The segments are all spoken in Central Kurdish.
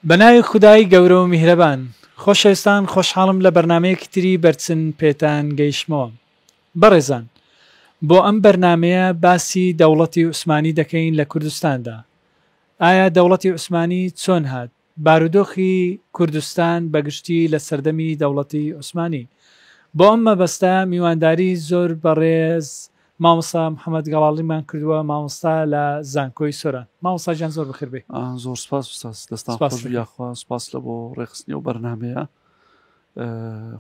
بەناوی خودایی گەورە و میهرەبان خۆشەویستان خۆشحاڵم لە بەرنمەیەکی تری بەرچن پێتان گەیشتمەوە بەڕێزان بۆ ئەم بەرنمەیە باسی دەوڵەتی عوسمانی دەکەین لە کوردستاندا ئایا دەوڵەتی عوسمانی چۆن هات بارودۆخی کوردستان بە گشتی لە سەردەمی دەوڵەتی عوسمانی. بۆ ئەم مەبەستە میوانداری زۆر بەڕێز مامۆستا محەمەد گەڵاڵیمان کردووە مامۆستا لە زانکۆی سۆران. مامۆستا گیان زۆر بەخێر بێی. زۆر سوپاس ئوستاز، دەستان خۆش بی یاخوا، سوپاس لە بۆ ڕێکخستنی ئەو بەرنامەیە.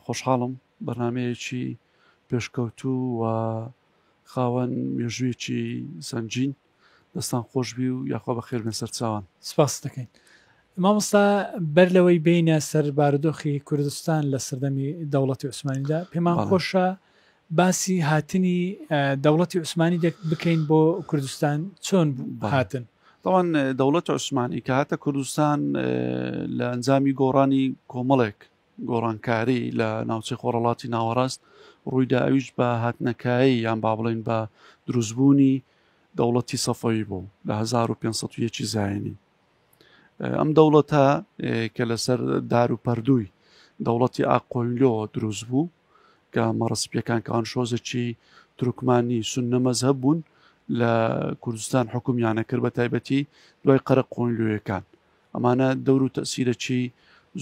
خۆشحاڵم بەرنمەیەکی پێشکەوتوو و خاوەن مێژوویەکی سەنگین. دەستان خۆشبی و یاخوا بەخێر بێن سەرچاوان. سپاست دەکەین مامۆستا، بەر لەوەی بێینە سەر بارودۆخی کوردستان لە سەردەمی دەوڵەتی عوسمانیدا، پێمان خۆشە باسی هاتنی دەوڵەتی عوسمانی بکەین بۆ کوردستان چۆن هاتن؟ تاوان دەوڵەت عوسمانی کە هاتە کوردستان لە ئەنجامی گۆڕانی کۆمەڵێک گۆڕانکاری لە ناوچەی خۆڕەڵاتی ناوەڕاست ڕوویدا ئەویش بە هاتنەکایەی یان با بڵێین بە دروستبوونی دەوڵەتی سەفەوی بوو لە 1501 زایینی ئەم دەوڵەتە کە لەسەر دار و پەردووی دەوڵەتی ئاقۆینلۆ دروست بوو کە مەڕسپیەکان کەوان شۆزەکی ترکمانی سنە مەزهب بوون لە کوردستان حکومیانە کرد بە تایبەتی دوای قەرە قۆینلوەکان ئەمانە دەور و تەسیرەکی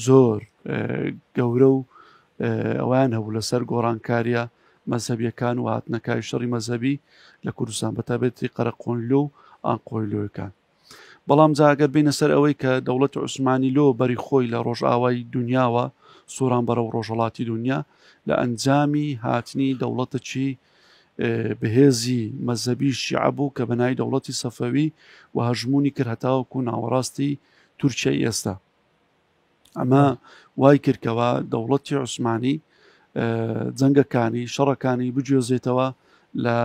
زۆر گەورە و ئەویان هەبوو لەسەر گۆڕانکاریە مەذهبیەکان و هاتنەکای شەڕی مەذهبی لە کوردستان بە تابێتی قەرەقۆنلۆ و ئاقۆیلۆەکان بەڵام جاگەر بینە سەر ئەوەی کە دەوڵەت عوسمانی لۆ بەری خۆی لە ڕۆژئاوای دنیاوە سووران بەرە و ڕۆژهڵاتی دنیا لە ئەنجامی هاتنی دەوڵەتەکی بەهێزی مەزەبی شیعە بوو کە بەناوی دەوڵەتی سەفەوی و هەژموونی کرد هەتاوەکو ناوەڕاستی تورکیای ئێستا ئەمە وای کردکەوە دەوڵەتی عوسمانی جەنگەکانی شەڕەکانی بگوێزێتەوە لە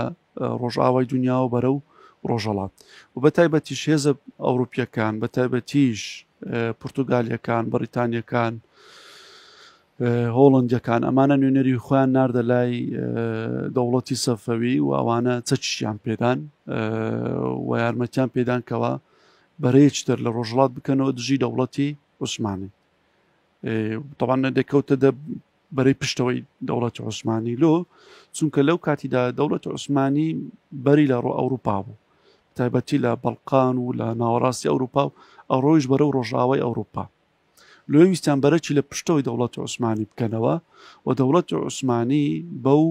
ڕۆژئاوای دنیاوە بەرە و ڕۆژەڵات و بە تایبەتیش هێزە ئەوروپیەکان بە تایبەتیش پرتوگالیەکان بەریتانیەکان هۆڵەندیەکان ئەمانە نوێنەری خۆیان ناردە لای دەوڵەتی سەفەوی و ئەوانە چەچیان پێدان و یارمەتیان پێدان کەەوە بەرەیەچتر لە ڕۆژڵات بکەنەوە دژی دەوڵەتی عوسمانی تەوانە دەکەوتە دە بەرەی پشتەوەی دەوڵەتی عوسمانی لۆ چونکە لەو کاتیدا دەوڵەت عوسمانی بەری لە ڕۆ ئەوروپا بوو تایبەتی لە بەڵقان و لە ناوەڕاستی ئەوروپا و ئەڕۆیش بەرە و ڕۆژاوای ئەوروپا لۆیە ویستیان بەرەکی لە پشتەوەی دەوڵەتی عوسمانی بکەنەوە و دەوڵەتی عوسمانی بەو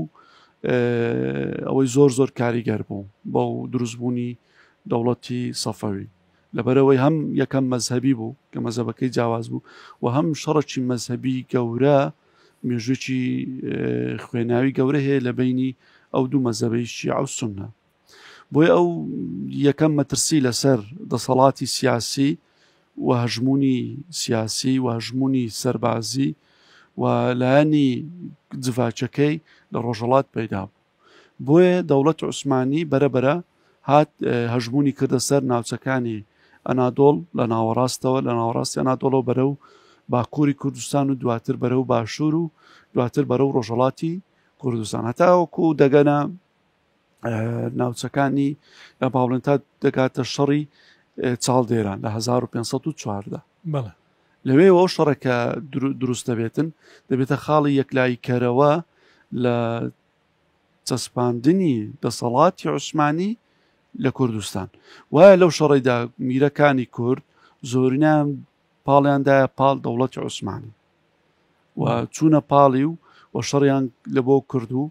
ئەوەی زۆر زۆر کاریگەر بوو بەو دروستبوونی دەوڵەتی سەفەوی لەبەرەوەی هەم یەکەم مەذهبی بوو کە مەزەبەکەی جیاواز بوو و هەم شەڕەکی مەذهبی گەورە مێژوێکی خوێناوی گەورە هەیە لە بینی ئەو دوو مەزەبەی شیعە و سنە بۆیە ئەو یەکەم مەترسی لەسەر دەسەڵاتی سیاسی و هەژمونی سیاسی و هەژمونی سەربازی و لایەنی جڤاچەکەی لە ڕۆژەڵات پەیدا بوو بۆیە دەوڵەت عوسمانی بەرەبەرە هات هەژمونی کردە سەر ناوچەکانی ئەنادۆڵ لە ناوەڕاستەوە لە ناوەڕاستی ئەنادۆڵەوە بەرە و باکووری کوردستان و دواتر بەرە و باشوور و دواتر بەرە و ڕۆژەڵاتی کوردستان هەتاوەکو دەگەنە ناوچەکانی باڵێن تا دەکاتە شەڕی چاڵدێران لە 1514 بەڵێ لەوێ ئەو شەڕەکە دروست دەبێتن دەبێتە خاڵی یەکلایی کەرەوە لە چەسپاندنی دەسەڵاتی عوسمانی لە کوردستان وایە لەو شەڕێدا میرەکانی کورد زۆرینان پاڵیاندایە پاڵ دەوڵەتی عوسمانی و چوونە پاڵی و و شەڕیان لە بۆ کرد و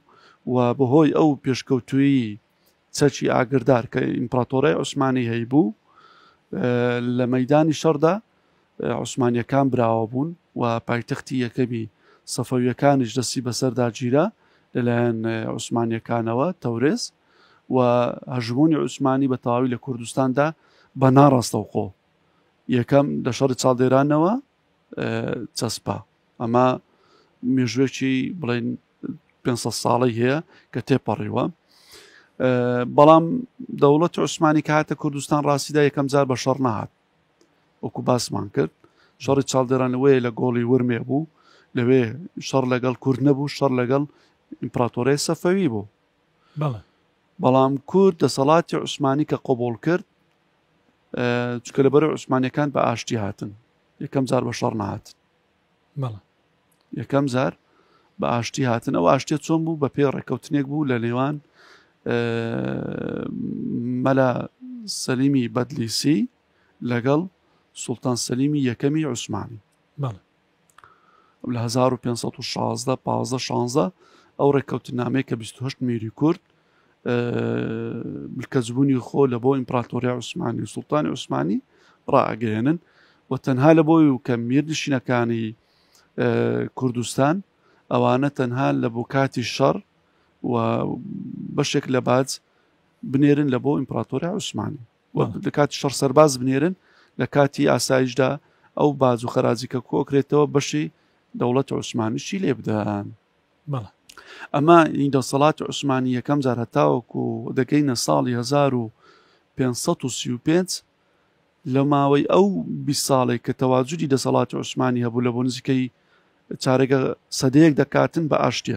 و بەهۆی ئەو پێشکەوتوی چەکی ئاگردار کە ئیمپراتۆرای عوسمانی هەیبوو لە مەدانی شەڕدا عوسمانیەکان براوە بوون و پایتەختی یەکەمی سەفەویەکانیش دەستی بەسەردا گیرا لەلایەن عوسمانیەکانەوە تەورێز و هەژمونی عوسمانی بە تەواوی لە کوردستاندا بە ناڕاستەوخۆ یەکەم لە شەڕی چاڵدێرانەوە چەسپا ئەمە مێژوێکی بڵێن 500 ساڵی هەیە کە تێپەڕیوە بەڵام دەوڵەت عوسمانی کاتە کوردستان ڕاستیدا یەکەم جار بە شەڕ نەهات وەکو باسمان کرد شەڕی چاڵدێرانەوەی لە گۆڵی ورمێ بوو لەوێ شەڕ لەگەڵ کورد نەبوو شەڕ لەگەڵ ئیمپراتۆرێ سەفەوی بوو بەڵام کورد دەسەڵاتی عوسمانی کە قۆبڵ کرد چکە لە بەرە عوسمانەکان بە ئاشتی هاتن یەکەم جار بە شەڕ نهاتن یەکەم جار بە ئاشتی هاتن ئەو ئاشتێ چۆن بوو بە پێ ڕێککەوتنێک بوو لە نێوان مەلا سەلیمی بەدلیسی لەگەڵ سوڵتان سەلیمی یەکەمی عوسمانی لە هەزار و پێنج سەد و شازدە پازدە شانزە ئەو ڕێککەوتنامەیە کە بیست و هەشت میری کورد ملکەزبوونی خۆ لە بۆ ئیمپراتۆریا عوسمانی و سوڵتانی عوسمانی ڕاگەێنن و تەنها لە بۆی و کە میرنشینەکانی کوردستان ئەوانە تەنها لە بۆ کاتی شەڕ و بەشێک لە باج بنێرن لە بۆ ئیمپراتۆریا عوسمانی و لەکاتی شەڕ سەرباز بنێرن، لەکاتی ئاسایشدا ئەو باج و خەراجی کە کۆکرێتەوە بەشی دەوڵەتی عوسمانیشی لێ بدەن. ئەمە این دەسەڵاتی عوسمانی یەکەم جار هەتاوەکو دەگەینە ساڵی 1535 لە ماوەی ئەو بی ساڵێک کە تەواجودی دەسەڵاتی عوسمانی هەبوو لە بۆ نزیکەی چارەگە سەدەیەک دەکاتن بە ئاشتە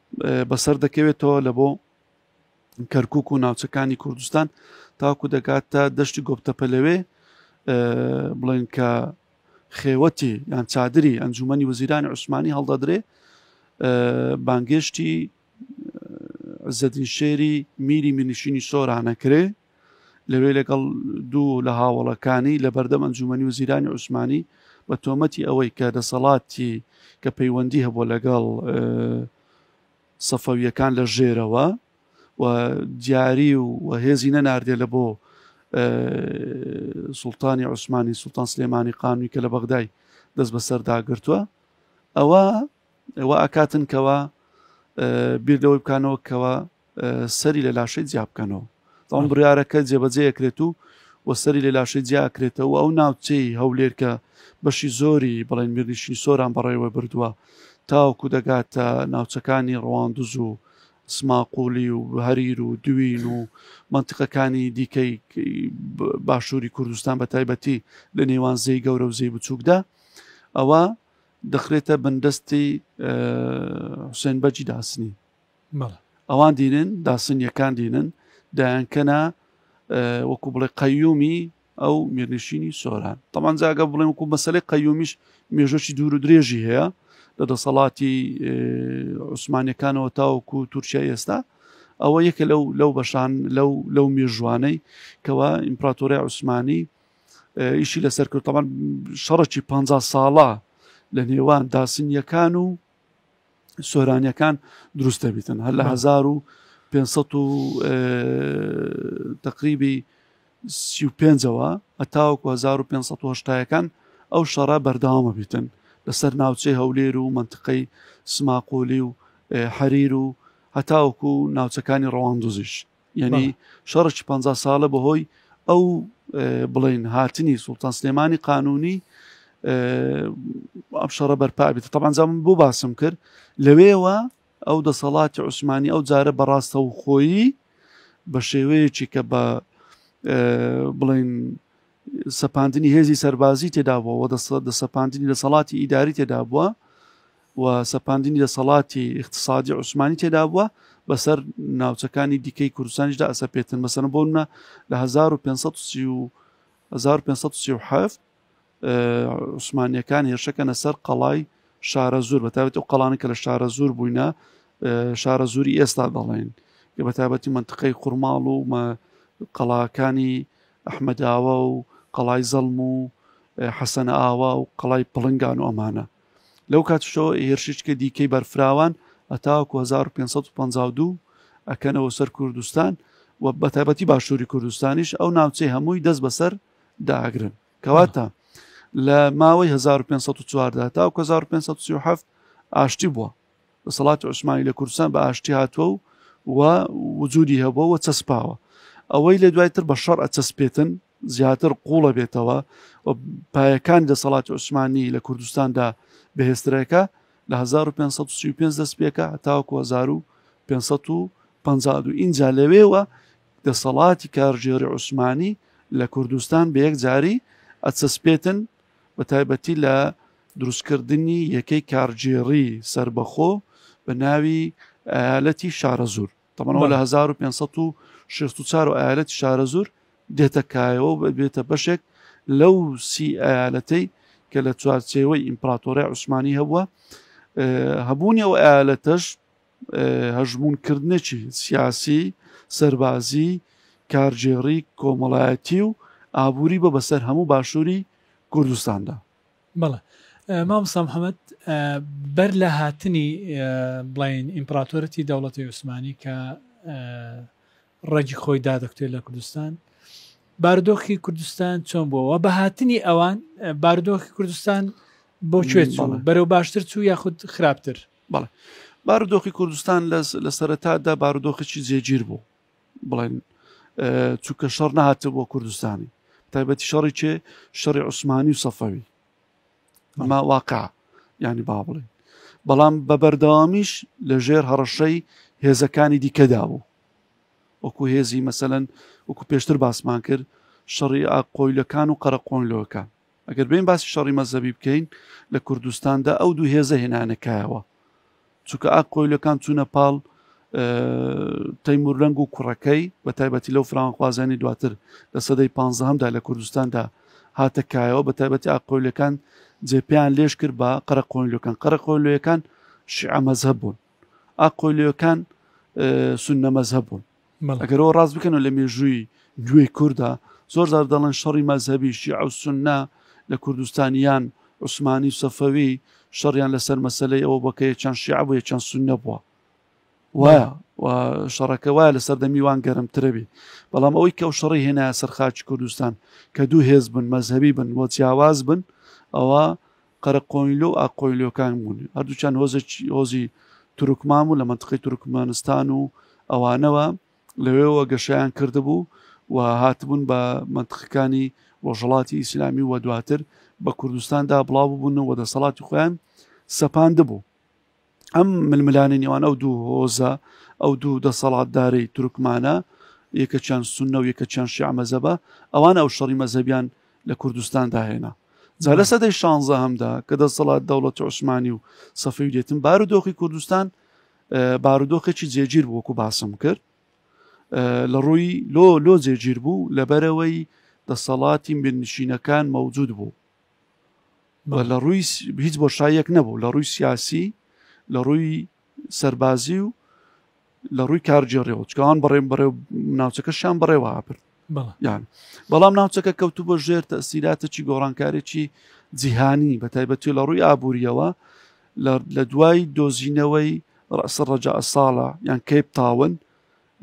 بەسەر دەکەوێتەوە لە بۆ کەرکک و ناوچەکانی کوردستان تاکو دەگات تا دەشتی گۆپتەپە لەوێ بڵێن کە خێوەتی یان چادری ئەنجومی وزیرانی عوسمانی هەڵدەدرێ بانگێشتی زەدین شێری میری منیشینی سۆرانەکرێ لەوێ لەگەڵ دوو لە هاوەڵەکانی لە بەردەم ئەنجومەنی وزیرانی عوسمانی بە تۆمەتی ئەوەی کە دەسەڵاتی کە پەیوەندی هەبووە لەگەڵ سەفەویەکان لە ژێرەوە و دیاری و هێزی نەناردێ لە بۆ سلتانی عوسمانی سلتان سلێمانی قانوی کە لە بەغدای دەست بەسەرداگرتووە ئەوە وا ئەکاتن کەوا بیر لەوەی بکانەوە کەوا سەری لە لاشەی جیا بکەنەوە ئەم بڕارەکە جێبەجێکرێت و و سەری لە لاشەی جیاکرێتەوە ئەو ناوچەی هەولێر کە بەشی زۆری بڵێن میرنیشی سۆران بەڕێوە بردووە تاوکو دەگاتە ناوچەکانی ڕواندز و سماقۆلی و هەریر و دوین و منتیقەکانی دیکەی باشووری کوردستان بە تایبەتی لە نێوان زەی گەورە و زەی بچووکدا ئەوە دەخرێتە بندەستی حوسێن بەجی داسنی ئەوان دینن داسنیەکان دینن دایانکەنا وەکو بڵێ قەیومی ئەو میرنشینی سۆران تەمان جاگە بڵێن وکو مەسلەی قەیومیش مێژۆکی دوور و درێژی هەیە لە دەسەڵاتی عوسمانەکانەوە تاوەکو تورکیا ئێستا ئەوە یەکە لەو لەو بەشان لەو لەو مێژوانەی کەوا ئیمپراتۆری عوسمانی ئیشی لەسەر کرد تەمان شەڕکی پ ساڵە لە نێوان داسنیەکان و سۆرانیەکان دروست دەبیتن هەر لە 1500 و تقریبی سی و پێنجەوە ئەتاوەکو 1500ەکان ئەو شەڕە بەرداوامە بیتن لەسەر ناوچەی هەولێر و منطقەی سماقۆلی و حەریر و هەتاوەکو ناوچەکانی ڕەواندوزیش یعنی شەڕکی پەنجا ساڵە بەهۆی ئەو بڵین هاتنی سوڵتان سلێمانی قانونی ئەم شەڕە بەرپابێت تەبانجام بۆ باسم کرد لەوێوە ئەو دەسەڵاتی عوسمانی ئەو جارە بەڕاستە و خۆیی بە شێوەیەکی کە بە بڵین سەپاندنی هێزی سەربازی تێدابووە و دەسەپاندنی دەسەڵاتی ئیداری تێدابووە و سەپاندنی دەسەڵاتی اقتصادی عوسمانی تێدابووە بەسەر ناوچەکانی دیکەی کوردستانیشدا ئەسە پێتن مەسەن بۆنە لە 1537 عوسمانیەکان هێرشەکەنە سەر قەڵای شارە زۆر بەتابێت و قەڵانی کە لە شارە زۆر بووینە شارە زۆری ئێستا دەڵێن کە بەتابەتی منتقەی قورماڵ و قەڵاکانی ئەحمەداوا و قەڵای زەڵم و حەسەنە ئاوا و قەڵای پڵنگان و ئەمانە لەو کاتشەوە هێرشیچکە دیکەی بەرفراوان ئەتاکو 1552 ئەکەنەوە سەر کوردستان و بەتابەتی باشووری کوردستانیش ئەو ناوچەی هەمووی دەست بەسەر داگرن کەواتە لە ماوەی 1514 تا 1537 ئاشتی بووە دەسەڵاتی عوسمانی لە کوردستان بە ئاشتی هاتووە و و وجودی هەبووە و چەسپاوە ئەوەی لە دوای تر بە شەڕ ئەچەسپێتن زیاتر قوڵە بێتەوە و پایەکان دەسەڵاتی عوسمانی لە کوردستاندا بەهێسترەکە لە 1535 دەست پێکە تاوکو 1550 ئینجا لەوێوە دەسەڵاتی کارژێری عوسمانی لە کوردستان بە یەک جاری ئەچەسپێتن بە تایبەتی لە دروستکردنی یەکەی کارگێڕی سەربەخۆ بە ناوی ئالەتی شارەزور تەمەەوە لە 1564 و ئالەتی شارەزور دێتە کایەوە و بێتە بەشێک لەو سی ئالەتەی کە لە چوارچێوەی ئیمپراتۆرە عوسمانی هەبووە هەبوونی ئەو ئالەتەش هەژموونکردنێکی سیاسی، سەربازی، کارگێڕی، کۆمەڵایەتی و ئابووری بە بەسەر هەموو باشووری کوردستاندا. بەڵێ مامۆستا محەمەد بەر لە هاتنی بڵین ئیمپراتۆرەتی دەوڵەتی عوسمانی کە ڕەگی خۆی دادەکتێت لە کوردستان باردۆخی کوردستان چۆن بووەوە بە هاتنی ئەوان باردۆخی کوردستان بۆ کوێت بەرەو باشتر چوو یاخود خراپتر بەڵێ بارودۆخی کوردستان لە سەرەتادا بارودۆخێکی جێگیر بوو بڵێن چونکە شەڕ نهاتە بۆ کوردستانی تایبەتی شەڕی چێ شەڕی عوسمانی و سەفەوی ئەمە واقع ینی با بڵێن بەڵام بە بەردەوامیش لە ژێر هەڕەشەی هێزەکانی دیکەدا بوو وەکو هێزی مەسەەن وەکو پێشتر باسمان کرد شەڕی ئاقۆیلەکان و قەرەقۆنلۆکان ئەگەر بێین باسی شەڕی مەزەبی بکەین لە کوردستاندا ئەو دوو هێزە هێنانە کایەوە چونکە ئاک قۆیلەکان چوونە پاڵ تەیمورلەنگ و کوڕەکەی بە تایبەتی لەو فراوانخوازانی دواتر لە سەدەی پ هەمدا لە کوردستاندا هاتە کایەوە بە تایبەتی ئاقۆیلەکان جێپیان لێش کرد بە قەرەقۆنلەکان قەرەقۆلوەکان شعە مەزهب بوون ئاقۆلوەکان سنە مەزهب بوون ئەگەرەوە ڕاست بکەنەوە لە مێژووی گوێی کووردا زۆر زار دەڵێن شەڕی مەزهبیشی ئەو سنە لە کوردستانیان عوسمانی و سەفەوی شەڕیان لەسەر مەسلەی ئەوە بە کە یەکیان شیع بوو یەکیان سنە بووە وایە شەڕەکە وایە لە سەردەمی وان گەرمترەبی بەڵام ئەوەی کە و شەڕی هێنا سەرخاچ کوردستان کە دوو هێز بن مەزهبی بن وە جیاواز بن ئەوە قەرەقۆینلۆ و ئاققۆینلۆکان بوون، هەردووکیان هۆزێکی هۆزی تورکمان بوون لە مەنتقەی تورکمەنستان و ئەوانەوە، لەوێوە گەشەیان کردبوو و هاتبوون بە مەنتقەکانی ڕۆژهەڵاتی ئیسلامی و دواتر بە کوردستاندا بڵاو ببوون و دەسەڵاتی خۆیان سەپاندبوو. ئەم ململانی نێوان ئەو دوو هۆزە ئەو دوو دەسەڵاتدارەی تورکمانە یەکە چەند سنە و یەکە چەند شعمەزەبە ئەوان ئەو شەڕی مەزەبیان لە کوردستان داهێنا جا لە سەدەی شانزە هەمدا کە دەسەڵات دەوڵەت عوسمانی و سەفەی دێتن بارودۆخی کوردستان بارودۆخێکی جێگیر بووکو باسم کرد لە ڕووی لۆ لۆ جێگیر بوو لەبەرەوەی دەسەڵاتی مێنشینەکان مەوجود بوو بە لە ڕووی هیچ بۆشاییەک نەبوو لە ڕووی سیاسی لە ڕووی سەربازی و لە ڕووی کارگێڕێەوە چکان بەڕێم بەڕێ ناوچەکەشیان بەڕێوە ئاپرد یان بەڵام ناوچەکە کەوتو بە ژێر تەسیراتەکی گۆڕانکارێکی جیهانی بە تایبەتی لە ڕووی ئابوووریەوە لە دوای دۆزینەوەی ڕاستە ڕەجا ساڵە یان کەیپ تاون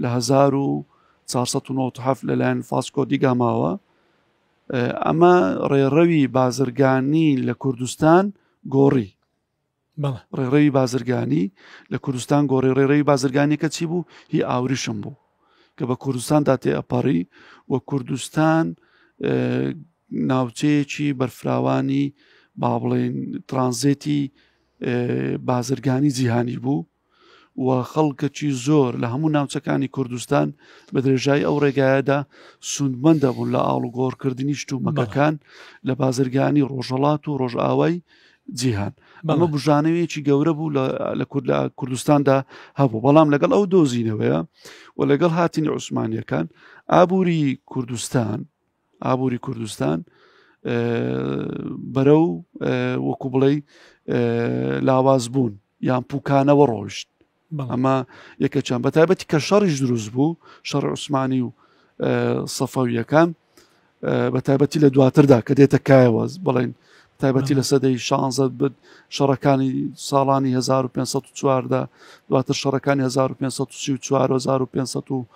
لە 1970 لەلایەن فاسکۆ دیگاماوە ئەمە ڕێڕەوی بازرگانی لە کوردستان گۆڕی ڕێڕەوی بازرگانی لە کوردستان گۆڕی ڕێڕەوی بازرگانیەکە چی بوو هی ئاوریشم بوو کە بە کوردستاندا تێ ئەپەڕی و کوردستان ناوچەیەکی بەرفراوانی با بڵێن ترانزێتی بازرگانی جیهانی بوو و خەڵکەکی زۆر لە هەموو ناوچەکانی کوردستان بە درێژایی ئەو ڕێگایەدا سوندمەند دەبوون لە ئاڵوگۆڕکردنی شتومەکەکان لە بازرگانی ڕۆژەڵات و ڕۆژئاوای جیهان بەمە بژانەوەیەکی گەورە بوو لە کورد لە کوردستاندا هەبوو بەڵام لەگەڵ ئەو دۆزینەوەیە و لەگەڵ هاتنی عوسمانیەکان ئابووری کوردستان ئابووری کوردستان بەرە و وەکو بڵێ لاواز بوون یان پوکانەوە ڕۆشت ئەمە یەکە چەند بە تایبەتی کە شەڕیش دروست بوو شەڕ عوسمانی و سەفەویەکان بە تایبەتی لە دواتردا کە دێتە کایەوە بڵێن تایبەتی لە سەدەی شانزە بن شەڕەکانی ساڵانی 1514 دواتر شەڕەکانی 1534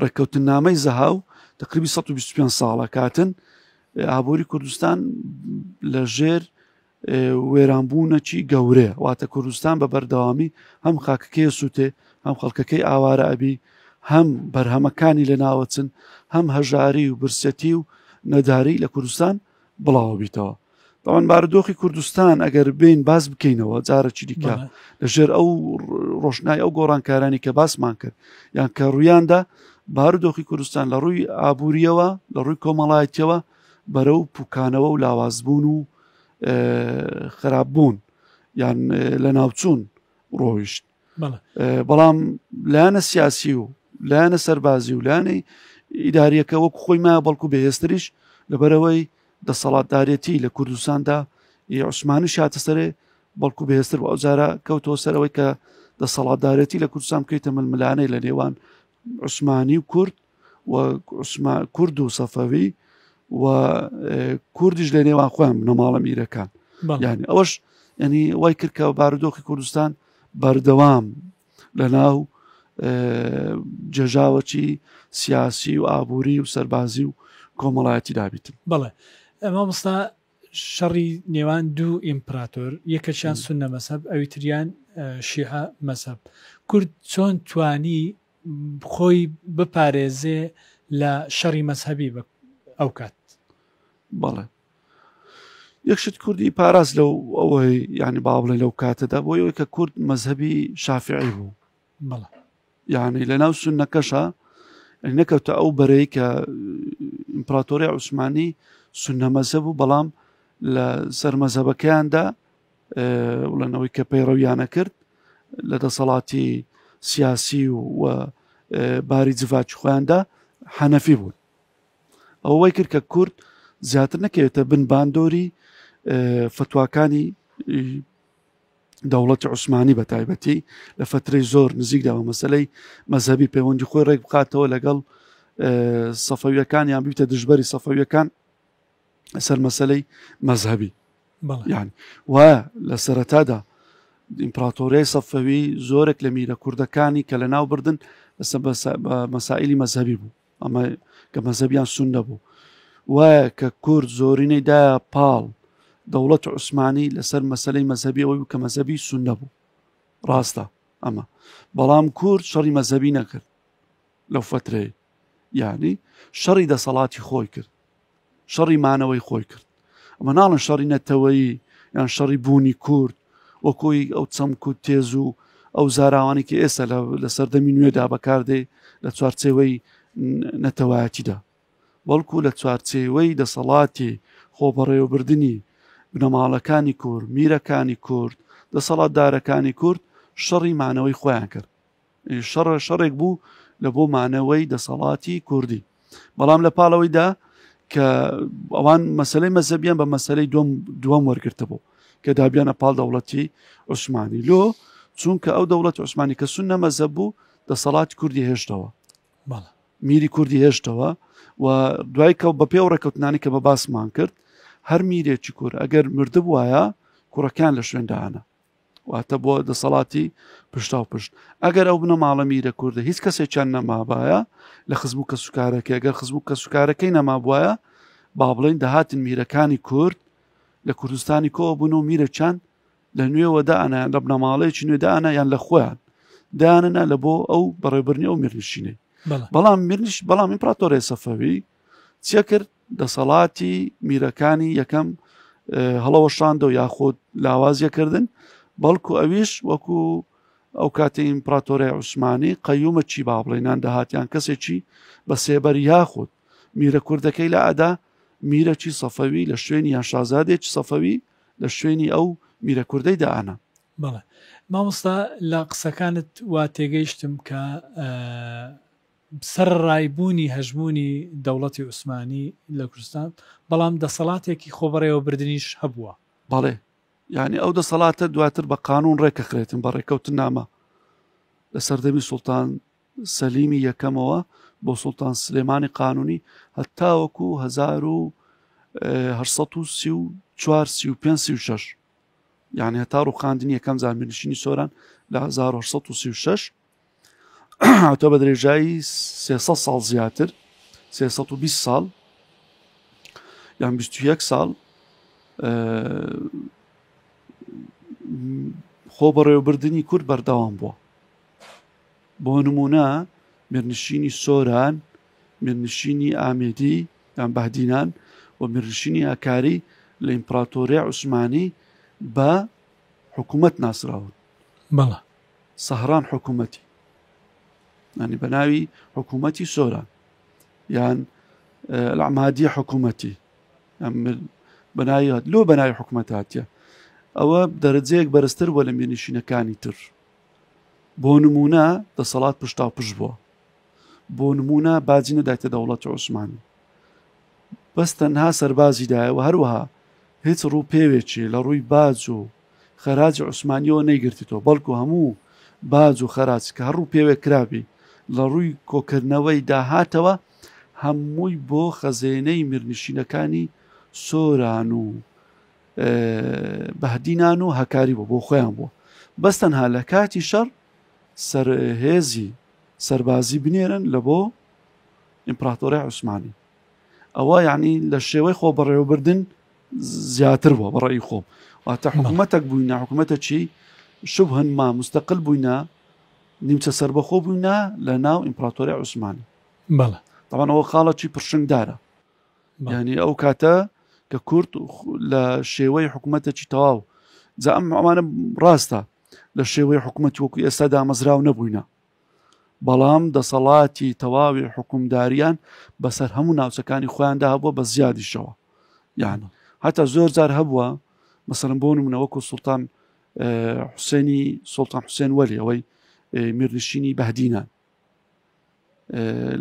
ڕێککەوتنامەی زەهاو تقریبی 125 ساڵە کاتن ئابووری کوردستان لە ژێر وێرانبوونەکی گەورێ واتە کوردستان بە بەردەوامی هەم خاکەکەی سووتێ هەم خەڵکەکەی ئاوارە ئەبی هەم بەرهەمەکانی لە ناوەچن هەم هەژاری و برسەتی و نەداری لە کوردستان بڵاوەبیتەوە داوان بارودۆخی کوردستان ئەگەر بین باز بکەینەوە جارەکی دیکە لەژێر ئەو ڕۆشنای ئەو گۆڕانکارانی کە باسمان کرد یان کە ڕوویاندا بارودۆخی کوردستان لە ڕووی ئابوووریەوە لە ڕووی کۆمەڵایەتەوە بەرەو پوکانەوە و لاوازبوون و خراپبوون یان لە ناوچوون ڕۆیشت بەڵام لایەنە سیاسی و لایەنە سەربازی و لایەنەی ئیداریەکە وەکو خۆی ما بەڵکو بەهێستریش لەبەرەوەی دەسەڵاتدارەتی لە کوردستاندا عوسمانی شاتە سەرێ بەڵکو بەهێستر و ئەوجارە کەوتەوە سەرەوەی کە دەسەڵاتدارەتی لە کوردستان بکەیتە ململانەی لە نێوان عوسمانی و کورد و عوسمان کورد و سەفەوی و کوردیش لە نێوان خۆیان بنەماڵە میرەکان یعنی ئەوەش ینی وای کرد کە بارودۆخی کوردستان بەردەوام لە ناو جێژاوەچی سیاسی و ئابووری و سەربازی و کۆمەڵایەتی دابیتن بڵێ ئەمە مستا شەڕی نێوان دوو ئیمپراتۆر یەکەشیان سونە مەسەب ئەوی تریان شیعە مەسەب کورد چۆن توانی خۆی بپارێزێ لە شەڕی مەزهەبی بە ئەو کات. بەڵێ یەک شت کوردی پاراست لەو ئەوەی یعنی با بڵێ لەو کاتەدا بۆ یەوەی کە کورد مەذهبی شافعی بوو بەڵێ یعنی لە ناو سنەکەشە نەکەوتە ئەو بەرەی کە ئیمپراتۆری عوسمانی سنە مەزهب و بەڵام لە سەر مەزهبەکەیاندا بڵێنەوەی کە پەیڕەویانە کرد لە دەسەڵاتی سیاسی و باری جڤاچ خۆیاندا حەنەفی بوون ئەوەی کرد کە کورد زیاتر نەکەوێتە بن باندۆری فتوواکانی دەوڵەتی عوسمانی بە تایبەتی لە فترەی زۆر نزیکداوە مەسلەی مەذهبی پەیوەندی خۆی ڕێک بخاتەوە لەگەڵ سەفەویەکان یان بیتە دژبەری سەفەویەکان سەر مەسلەی مەذهبی یان وا لە سەرەتادا ئیمپراتۆریای سەفەوی زۆرێک لە میرە کوردەکانی کە لە ناو بردن لەسە مەسائلی مەذهبی بوو ئەمە کە مەذهبیان سون نەبوو وایە کە کورد زۆرینەی دا پاڵ دەوڵەت عوسمانی لەسەر مەسلەی مەذهبی ئەوەی کە مەذهبی سون نەبوو ڕاستە ئەمە بەڵام کورد شەڕی مەذهبی نەکرد لەو فترەیە یعنی شەڕی دەسەڵاتی خۆی کرد شەڕی مانەوەی خۆی کرد ئەمە ناڵن شەڕی نەتەوەیی یان شەڕی بوونی کورد وەکۆی ئەو چەمک و تێز و ئەو زاراوانی کە ئێستا لە سەردەمی نوێدا بەکاردەی لە چوارچێوەی نەتەوایەتیدا بەڵکو لە چوارچێوەی دەسەڵاتی خۆبەڕێوەبردننی بنەماڵەکانی کورد میرەکانی کورد دەسەڵاتدارەکانی کورد شەڕی مانەوەی خۆیان کرد شەڕ شەڕێک بوو لە بۆ مانەوەی دەسەڵاتی کوردی بەڵام لە پاڵەوەیدا کە ئەوان مەسلەی مەزەبیان بە مەسلەی دوم دووەم وەرگرتە بوو کە دابیانە پاڵ دەوڵەتی عوسمانی لۆ چونکە ئەو دەوڵەت عوسمانی کە سون نەمەزە بوو دەسەڵات کوردی هێشتەوە میری کوردی هێشتەوە و دوای کە بە پێ ڕێککەوتنانی کە بە باسمان کرد هەر میرێکی کور ئەگەر مردبواە کوڕەکان لە شوێندانە واتە بۆ دەسەڵاتی پشتاو پشت ئەگەر ئەو بنەماڵە میرە کوردە هیچ کەسێکیان نەمابایە لە خزم و کەسوکارەکە گەر خزم و کەسوکارەکەی نەمابواە با بڵین دەهاتن میرەکانی کورد لە کوردستانی کۆ بوون و میرەچان لە نوێوە دانا لە بنەماڵەیەکی نوێ دانا یان لە خۆیان داننا لە بۆ ئەو بەڕێبرنی ئەو میرنشینەی بەڵام میرنش بەڵام ئیمپراتۆرێ سەفەوی چیە کرد دەسەڵاتی میرەکانی یەکەم هەڵەوەشاندە و یاخود لاوازیەکردن بەڵکو ئەویش وەکو ئەو کاتی ئیمپراتۆرە عوسمانی قەیومە چی با بڵێنان دەهاتیان کەسێکی بە سێبەر یاخود میرە کوردەکەی لە ئەدا میرەکی سەفەوی لە شوێنی یا شازادێکی سەفەوی لە شوێنی ئەو میرە کوردەی دانا بەڵێ مامۆستا لە قسەکانت وا تێگەیشتم کە سەرەڕای بوونی هەژموونی دەوڵەتی عوسمانی لە کوردستان، بەڵام دەسەڵاتێکی خۆبەڕێوەبردنیش هەبووە. بەڵێ، یانی ئەو دەسەڵاتە دواتر بە قانوون ڕێکەخرێتن بە ڕێکەوتننامە لە سەردەمی سوڵتان سەلیمی یەکەمەوە بۆ سوڵتان سلێمانی قانوونی هەتاوەکو هەزار و هەشت سەد و سی و چوار سی و پێنج سی و شەش یانی هەتا ڕووخاندنی یەکەم جار میرنشینی سۆران لە هەزار و هەشت سەد و سی و شەش هاتوە بە درێژایی 300 ساڵ زیاتر 320 ساڵ یان 21 ساڵ خۆ بەڕێوەبردننی کورد بەردەوام بووە بۆ نمونە مێرنشینی سۆران مێرنشینی ئامێدی یان بەدینان و مێرنشینی ئاکاری لە ئیمپراتۆریای عوسمانی بە حکوومەت ناسراون بەڵە سهران حکومەتی ینی بە ناوی حکوومەتی سۆران یان لەعمادیە حکوومەتی بەناویات لۆ بەناوی حکوومەتاتە ئەوە دەرەجەیەک بەرزتر بۆ لە مێنشینەکانی تر بۆ نمونە دەسەڵات پشتا و پشت بووە بۆ نمونە باجی نەدایتە دەوڵەت عوسمانی بەس تەنها سەربازیدایەوە هەروەها هیچ ڕوو پێوێکی لە ڕووی باج و خەراجی عوسمانیەوە نەیگرتیتەوە بەڵکو هەموو باج و خەراج کە هەڕوو پێوێ کرابی لە ڕووی کۆکردنەوەی داهاتەوە هەمووی بۆ خەزێنەی میرنشینەکانی سۆران و بەهدینان و هەکاری بۆ بۆ خۆیان بووە بەس تەنها لە کاتی شەڕ سەرهێزی سەربازی بنێرن لە بۆ ئیمپراتۆری عوسمانی ئەوە یعنی لە شێوەی خۆ بەڕێوەبردن زیاتر بووە بەڕێی خۆم واتە حکوومەتەک بووینە حکوومەتە چی شوب هەنما مستەقل بووینە نیمچە سربەخۆ بووینە لە ناو ئیمپراتۆری عوسمانی بەڵە دەوانەوە خاڵەکی پرشنگدارە ینی ئەو کاتە کە کورد لە شێوەی حکوومەتەکی تەواو جا ئەم ئەمانە ڕاستە لە شێوەی حکوومەت وەکو ئێستا دامەزراو نەبووینە بەڵام دەسەڵاتی تەواوی حکومداریان بەسەر هەموو ناوچەکانی خۆیاندا هەبووە بە زیادیشەوە یان هەتا زۆر جار هەبووە مەسەرم بۆ نمونە وەکو سلتان حوسێنی سلتان حوسێن وەلی ئەوەی میرنشینی بەهدینان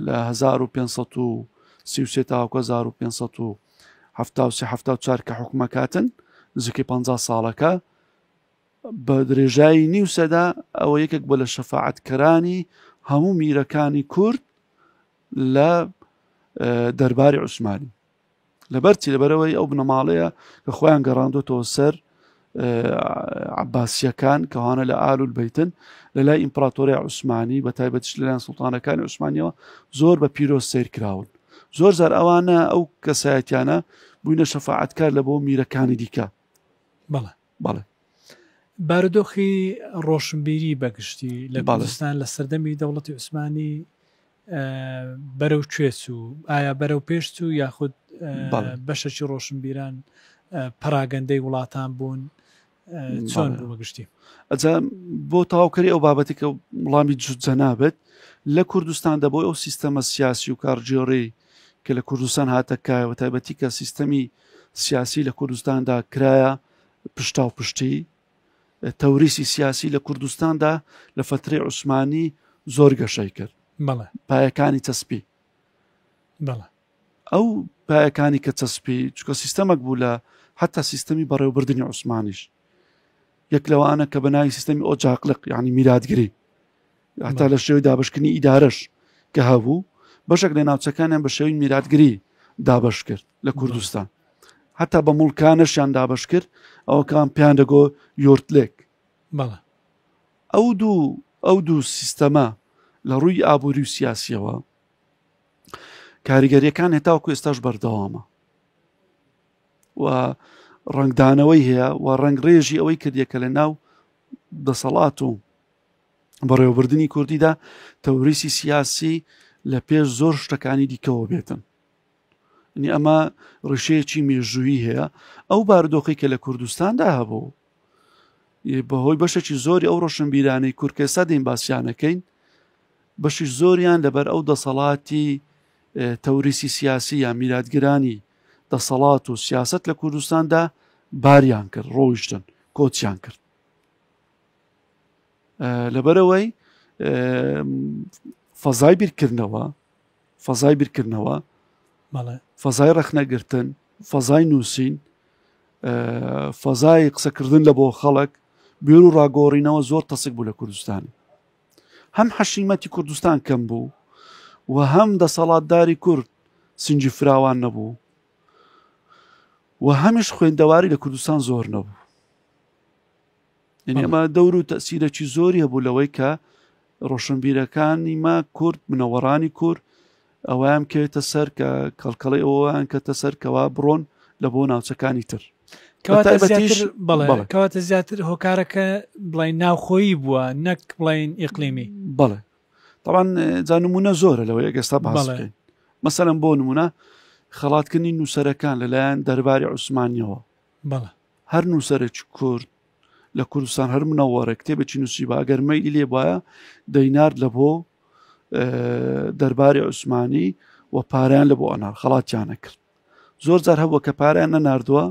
لە 1533 تاوکە 1570 کە حکومەکاتن نزیکەی 50 ساڵەکە بە درێژایی نیو سەدا ئەوە یەکێک بۆ لە شەفاعەتکەرانی هەموو میرەکانی کورد لە دەرباری عوسمانی لەبەرچی لەبەرەوەی ئەو بنەماڵەیە کە خۆیان گەڕاندۆتەوە سەر عباسیەکان کەوانە لە ئال و بیتن لە لای ئیمپراتۆری عوسمانی بە تایبەتش لەلایەن سلتانەکانی عوسمانیەوە زۆر بە پیرۆز سیر کراون زۆر زار ئەوانە ئەو کەسایەتیانە بووینە شەفاعتکار لە بۆ میرەکانی دیکە بەڵێ بەڵێ. بارودۆخی ڕۆشنبیری بە گشتی لە کوردستان لە سەردەمی دەوڵەتی عوسمانی بەرەو کوێ چوو؟ ئایا بەرەو پێش چوو یاخود بەشەکی ڕۆشنبیران پەراگەندەی وڵاتان بوون چۆن بوو بە گشتی؟ ئەجا بۆ تاوکەری ئەو بابەتی کە وڵامی جوجە نابێت لە کوردستان دەبۆی ئەو سیستەمە سیاسی و کارگێڕی کە لە کوردستان هاتە کایە و تایبەتی کە سیستەمی سیاسی لە کوردستاندا کرایە پشتا و پشتی تەوریسی سیاسی لە کوردستاندا لە فتری عوسمانی زۆر گەشەی کرد پایەکانی چەسپی ئەو پایەکانی کە چەسپی چکە سیستەمەک بوو لە حتا سیستەمی بەڕێوبردننی عوسمانیش یەک لەوانە کە بەناوی سیستەمی ئۆجاقلق یعنی میراتگری هەتا لە شێوی دابشکردنی ئیدارەش کە هەبوو بەشێک لە ناوچەکانیان بە شێوی میراتگری دابش کرد لە کوردستان هەتا بە مڵکانەشیان دابش کرد ئەوکان پێیان دەگۆ یۆرتلێک ئەو دوو ئەو دوو سیستەمە لە ڕووی ئابووری و سیاسیەوە کاریگەریەکان هێتاوکو ئێستاش بەردەوامە و ڕنگدانەوەی هەیە و ڕنگ ڕێژی ئەوەی کردیە کە لە ناو دەسەڵات و بەڕێوەبردنی کوردیدا تەوریسی سیاسی لە پێش زۆر شتەکانی دیکەەوە بێتن نی ئەمە ڕشەیەکی مێژووی هەیە ئەو باردۆخی کە لە کوردستاندا هەبوو بەهۆی بەشێکی زۆری ئەو ڕۆشنبیرانەی کورکێسا دەین باسییانەکەین بەشی زۆریان لەبەر ئەو دەسەڵاتی تەوریسی سیاسی یا میراتگرانی دەسەڵات و سیاست لە کوردستاندا باریان کرد ڕۆیشتن کۆچیان کرد لەبەرەوەی فەزای بیرکردنەوە فەزای بیرکردنەوە فەزای ڕەخنەگرتن فەزای نووسین فەزای قسەکردن لە بۆ خەڵک بێر و ڕاگۆڕینەوە زۆر تەسک بوو لە کوردستان هەم حەشیمەتی کوردستان کەم بوو و هەم دەسەڵاتداری کورد سنجی فراوان نەبوو و هەمیش خوێندەواری لە کوردستان زۆر نەبوو یعنی ئەمە دەور و تەسیرەکی زۆری هەبوو لەوەی کە ڕۆشنبیرەکانی ما کورد منەوەڕانی کورد ئەویان کەوێتە سەر کە کەڵکەڵی ئەویان کەتە سەر کەوا بڕۆن لە بۆ ناوچەکانی تر کەواتە زیاتر هۆکارەکە بڵین ناوخۆیی بووە نەک بڵین ئیقلیمی بڵێ تاوان جانمونە زۆرە لەوەی ئەگەستا باڵێن مەسەرم بۆ نمونە خەڵاتکردنی نووسەرەکان لەلایەن دەرباری عوسمانیەوە بەڵێ هەر نووسەرێک کورد لە کوردستان هەر منەوەڕێک کتێبێکی نووسی بە ئەگەر مەیلی لێ بواە دەینارد لە بۆ دەرباری عوسمانی و پاریان لە بۆ ئەنار خەڵاتیانە کرد زۆر جار هەبووە کە پاریان نەناردووە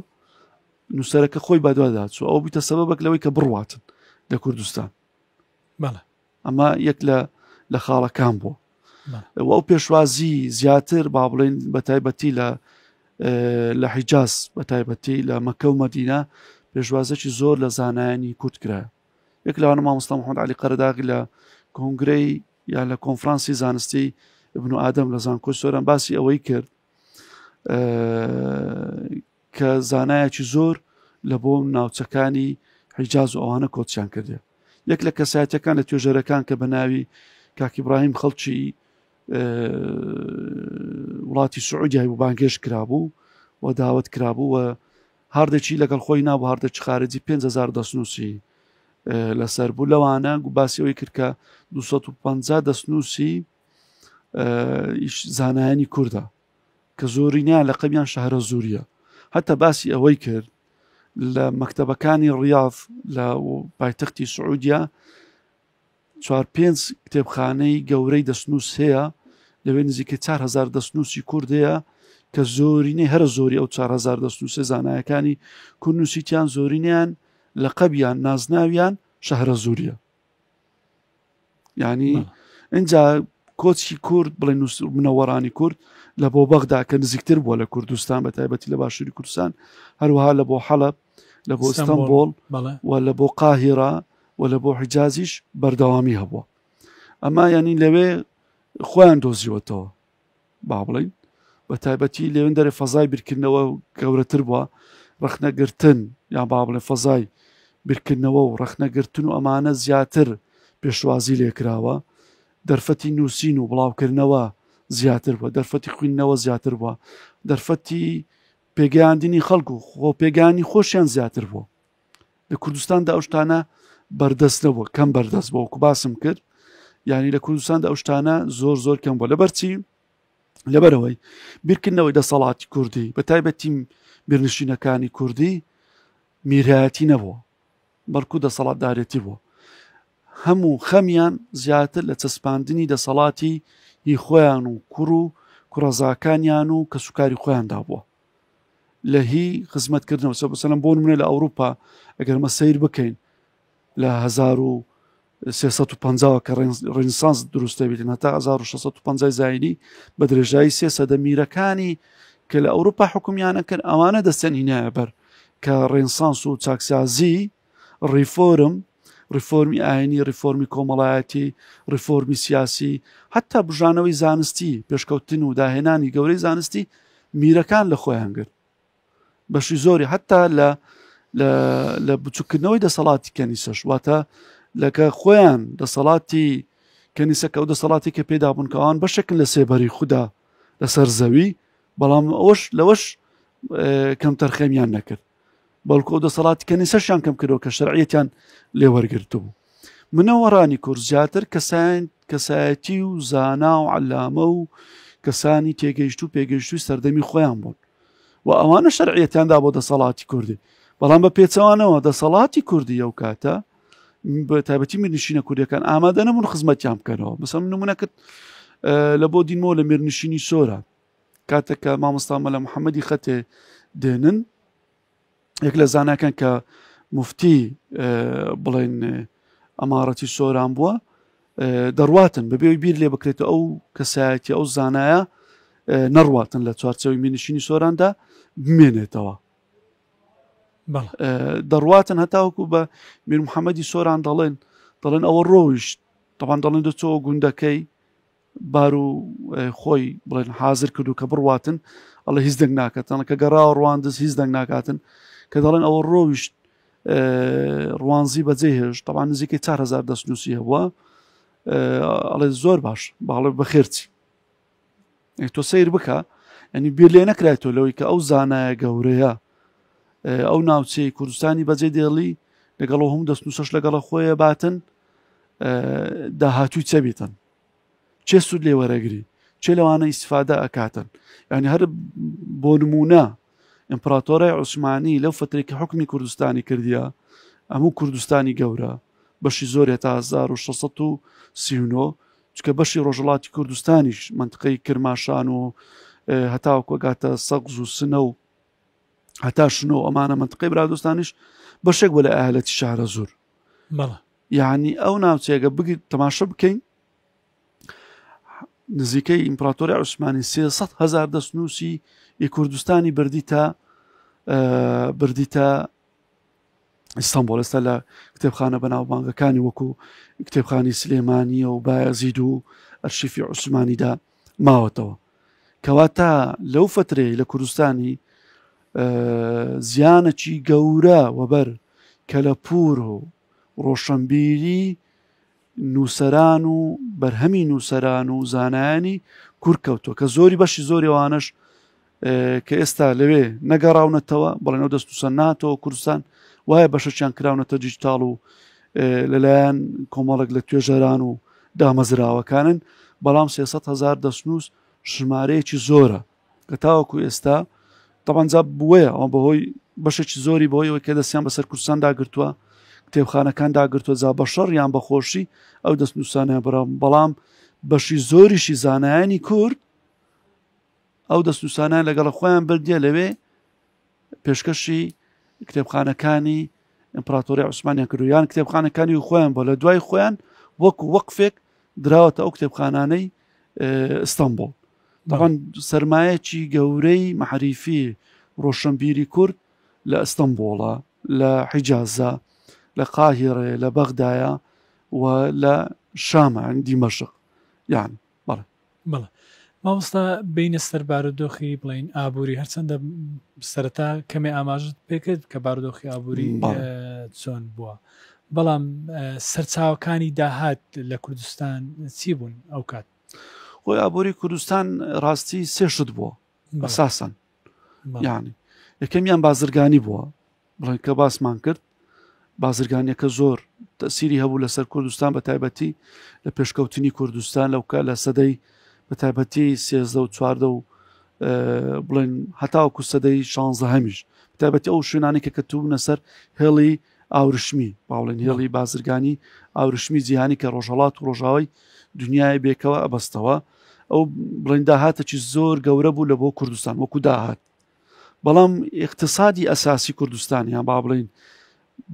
نووسەرەکە خۆی بەدواداچوو ئەو بیتە سەبەک لەوەی کە بڕواتن لە کوردستان بەڵێ ئەمە یەک لە لە خاڵەکان بوو ئەو پێشوازی زیاتر با بڵین بە تایبەتی لە لە حیجاز بە تایبەتی لە مەکە و مەدینە پێشوازێکی زۆر لە زانایانی کورد کرا یەک لەوانە مامۆستا محمد علی قەرداغی لە کۆنگرەی یا لە کۆنفرانسی زانستی ابن ئادەم لە زانکۆی سۆران باسی ئەوەی کرد کە زانایەکی زۆر لە بۆ ناوچەکانی حیجاز و ئەوانە کۆچیان کردێ یەک لە کەسایەتەکان لە توێژەرەکان کە بە ناوی کاکی براهیم خەڵکی وڵاتی سعودیای و بانگێش کرابوو و داوت کرابوو و هاردێکی لەگەڵ خۆی نابوو هاردێکی خارجی 5هزار دەستنووسی لەسەر بوو لەوانە گو باسیەوەی کردکە 250 دەستنووسی زانایانی کووردا کە زۆرینیان لە قەمیان شەهرە زوریە هەتا باسی ئەوەی کرد لە مەکتتەبەکانی ڕاف لە پایتەختی سعودیا چوار پێنج کتێبخانەی گەورەی دەستنووس هەیە لەوێ نزیکە 4هزار دەستنووسی کوردەیە کە زۆرینەی هەرە زۆری ئەو 4هزار دەستنووسە زانایەکانی کوردنووسیتیان زۆرینیان لە قەبیان نازناویان شەهرە زوریە ینی ئەجا کۆچی کورد بڵێ نووس منەوەڕانی کورد لە بۆ بەغدا کە نزیکتر بووە لە کوردستان بە تایبەتی لە باشووری کوردستان هەروها لە بۆ حەڵب لە بۆ ئستەمبۆڵ و لە بۆ قاهێرا و لە بۆ حجازیش بەردەوامی هەبووە ئەما ینی لەوێ خۆیان دۆزیوەتەوە با بڵین بە تایبەتی لەێن دەرێ فەزای بیرکردنەوە گەورەتر بووە ڕخنەگرتن یان با بڵێ فەزای بیرکردنەوە و ڕخنەگرتن و ئەمانە زیاتر پێشوازی لێکراوە دەرفەتی نووسین و بڵاوکردنەوە زیاتر بووە دەرفەتی خوێندنەوە زیاتر بووە دەرفەتی پێگەیاندنی خەڵکو خۆ پێگانی خۆشیان زیاتر بووە لە کوردستاندا ئەو شتانە بەردەست نەبووە کەم بەردەست بۆکو باسم کرد ینی لە کوردستاندا ئەو شتانە زۆر زۆر کەم بۆ لەبەرچی لەبەرەوەی بیرکردنەوەی دەسەڵاتی کوردی بە تایبەتیم بێنشینەکانی کوردی میرایەتی نەبووە بەڵکو دەسەڵاتدارێتی بووە هەموو خەمیان زیاتر لە چەسپاندنی دەسەڵاتی هی خۆیان و کوڕ و کوڕەزاکانیان و کە سوکاری خۆیاندا بووە لە هی خزمەت کردنەوە سە بەسەلم بۆن منێ لە ئەوروپا ئەگەرمە سیر بکەین لە 1950 کە ڕینسانس دروستەبیتن هەتا 1950 زینی بە درێژایی سێ سەدە میرەکانی کە لە ئەوروپا حکومیانە کرد ئەوانە دەستێن هینایە بەر کە ڕێنسانس و چاکسازی ڕیفۆرم، ڕیفۆرمی ئاینی، ڕیفۆرمی کۆمەڵایەتی، ڕیفۆرمی سیاسی، هەتا بژانەوەی زانستی پێشکەوتن و داهێنانی گەورەی زانستی میرەکان لە خۆیان گرت بەشی زۆری هەتا لە لە بچووکردنەوەی دەسەڵاتی کەنیسەش واتە لەکە خۆیان دەسەڵاتی کەنیسەکە و دەسەڵاتی کە پێدا بوونکەوان بەشێکن لە سێبەری خوددا لەسەر زەوی بەڵام ئەوش لەوەش کەم تەرخەمیان نەکرد بەڵکو ئەو دەسەڵاتی کەنیسەشیان کەم کردەوە کە شەرعەتیان لێ وەرگرتبوو منەوەڕانی کورد زیاتر کەسان کەسایەتی و زانا و عەلامە و کەسانی تێگەیشت و پێگەیشتوی سەردەمی خۆیان بوون و ئەوانە شەرعەتیاندا بۆ دەسەڵاتی کوردی بەڵام بە پێچەوانەوە دەسەڵاتی کوردی ئەو کاتە بە تایبەتی میرنشینە کوردەکان ئامادە نەبوون خزمەتیان بکەنەوە بەسەم نمونەکرد لە بۆ دیمۆ لە مێرنشینی سۆرە کاتێک کە مامۆستا مەلا محەممەدی خەتێ دێنن یەک لە زاناکەن کە مفتی بڵێن ئەماڕەتی سۆران بووە دەڕواتن بەبێ بیر لێ بکرێت ئەو کەسایەتی ئەو زانایە نەڕواتن لە چوارچەوەی مینشینی سۆراندا بمێنێتەوە دەڕواتن هەتاوکو بە میر محەممەدی سۆران دەڵێن دەڵێن ئەوە ڕۆیشت تەوان دەڵێن دەچەوە گوندەکەی بار و خۆی بڵێن حاضر کردو کە بڕواتن ئەڵە هیچ دەنگ ناکەتەڵە کە گەڕا و ڕواندز هیچ دەنگ ناکاتن کە دەڵێن ئەوە ڕۆیشت ڕوانزی بەجێ هێش تەوان نزیکەی 4هزار دەستنووسی هەبووە ئەڵێ زۆر باش باڵێ بەخێرچی تۆ سیر بکە ئەنی بیر لێ نەکرای تۆ لەوەی کە ئەو زانایە گەورەیە ئەو ناوچەی کوردستانی بەجێ دێڵی لەگەڵ هەم دەستنووسش لەگەڵە خۆیە باتن داهاتوی چە بیتن چێ سوود لێ وەرەگری چێ لەوانە ئیسفادە ئەکاتن ینی هەر بۆ نمونە ئیمپراتۆرای عوسمانی لەو فترێکی حکمی کوردستانی کردیا ئەموو کوردستانی گەورە بەشی زۆرە تا 1939 چکە بەشی ڕۆژڵاتی کوردستانیش منطقەی کرماشان و هەتاوکۆگاتە سەقز و سنە و هەتا شنۆ ئەمانە منتقی برادستانیش بەشێک بە لە ئاهلەتی شارە زۆر یعنی ئەو ناوچێگە بگیت تەماشە بکەین نزیکەی ئیمپراتۆری عوسمانی 300 هزار دەستنووسی ئی کوردستانی بردی تا بردی تا ئیستانبوڵ ئێستا لە کتێبخانە بەناوبانگەکانی وەکو کتێبخانی سلێمانیە و بایەزید و ئەرشیفی عوسمانیدا ماوەتەوە کەواتە لەو فترەیە لە کوردستانی زیانەکی گەورە وەبەر کەلەپور و ڕۆشنبیری نووسەران و بەرهەمی نووسەران و زانایانی کورد کەوتووە کە زۆری بەشی زۆری ئەوانش کە ئێستا لەوێ نەگەڕاونەتەوە بڵێنەوە دەست و سەناتەوە کوردستان وایە بەشەچیان کراونەتە دیجیتاڵ و لەلایەن کۆمەڵک لە توێژەران و دامەزراوەکانن بەڵام 300 هزار دەستنووس ژمارەیەکی زۆرە کە تاوەکو ئێستا تەبانجا بووەیە ئەوە بەهۆی بەشێکی زۆری بۆی ئەوەی کە دەستیان بەسەر کوردستان داگرتووە کتێبخانەکان داگرتووە جا بە شەڕ یان بەخۆشی ئەو دەست نووسانە برام بەڵام بەشی زۆریشی زانایانی کورد ئەو دەست نووسانیان لەگەڵ خۆیان بردیە لەوێ پێشکەشی کتێبخانەکانی ئیمپراتۆری عوسمانیان کرد یان کتێبخانەکانی و خۆیان بۆ لە دوای خۆیان وەکو وەقفێک دراوەتە ئەو کتێبخانانەی ئستانبول دەڕەن سرمایەکی گەورەی محریفی ڕۆشنبیری کورد لە ئستانبوڵە لە حیجازە لە قاهیڕێ لە بەغدایە و لە شامە دیمەشق یان بەڵێ بەڵێ مامۆستا بێینە سەر بارودۆخی بڵێین ئابووری هەرچەندە سەرەتا کەمێ ئاماژت پێکرد کە بارودۆخی ئابووری چۆن بووە بەڵام سەرچاوەکانی داهات لە کوردستان چی بوون ئەو کات خۆی ئابووری کوردستان ڕاستی سێشت بووە بەساسن یعنی یەکەمیان بازرگانی بووە بڵێن کە باسمان کرد بازرگانیەکە زۆر تەسیری هەبوو لەسەر کوردستان بە تایبەتی لە پێشکەوتنی کوردستان لەوکە لە سەدەی بە تایبەتی سێزدە و چواردە و بڵێن هەتاوکو سەدەی شانزە هەمیش تایبەتی ئەو شوێنانی کە کەتوبوونە سەر هێڵی ئاورشمی باڵێن هێڵی بازرگانی ئاورشمی جیهانی کە ڕۆژهڵات و ڕۆژاوای دنیای بێکەوە ئەبەستەوە ئەو بڵێن داهاتەی زۆر گەورە بوو لە بۆ کوردستان وەکو داهات بەڵام اقتصادی ئەساسی کوردستانیان با بڵین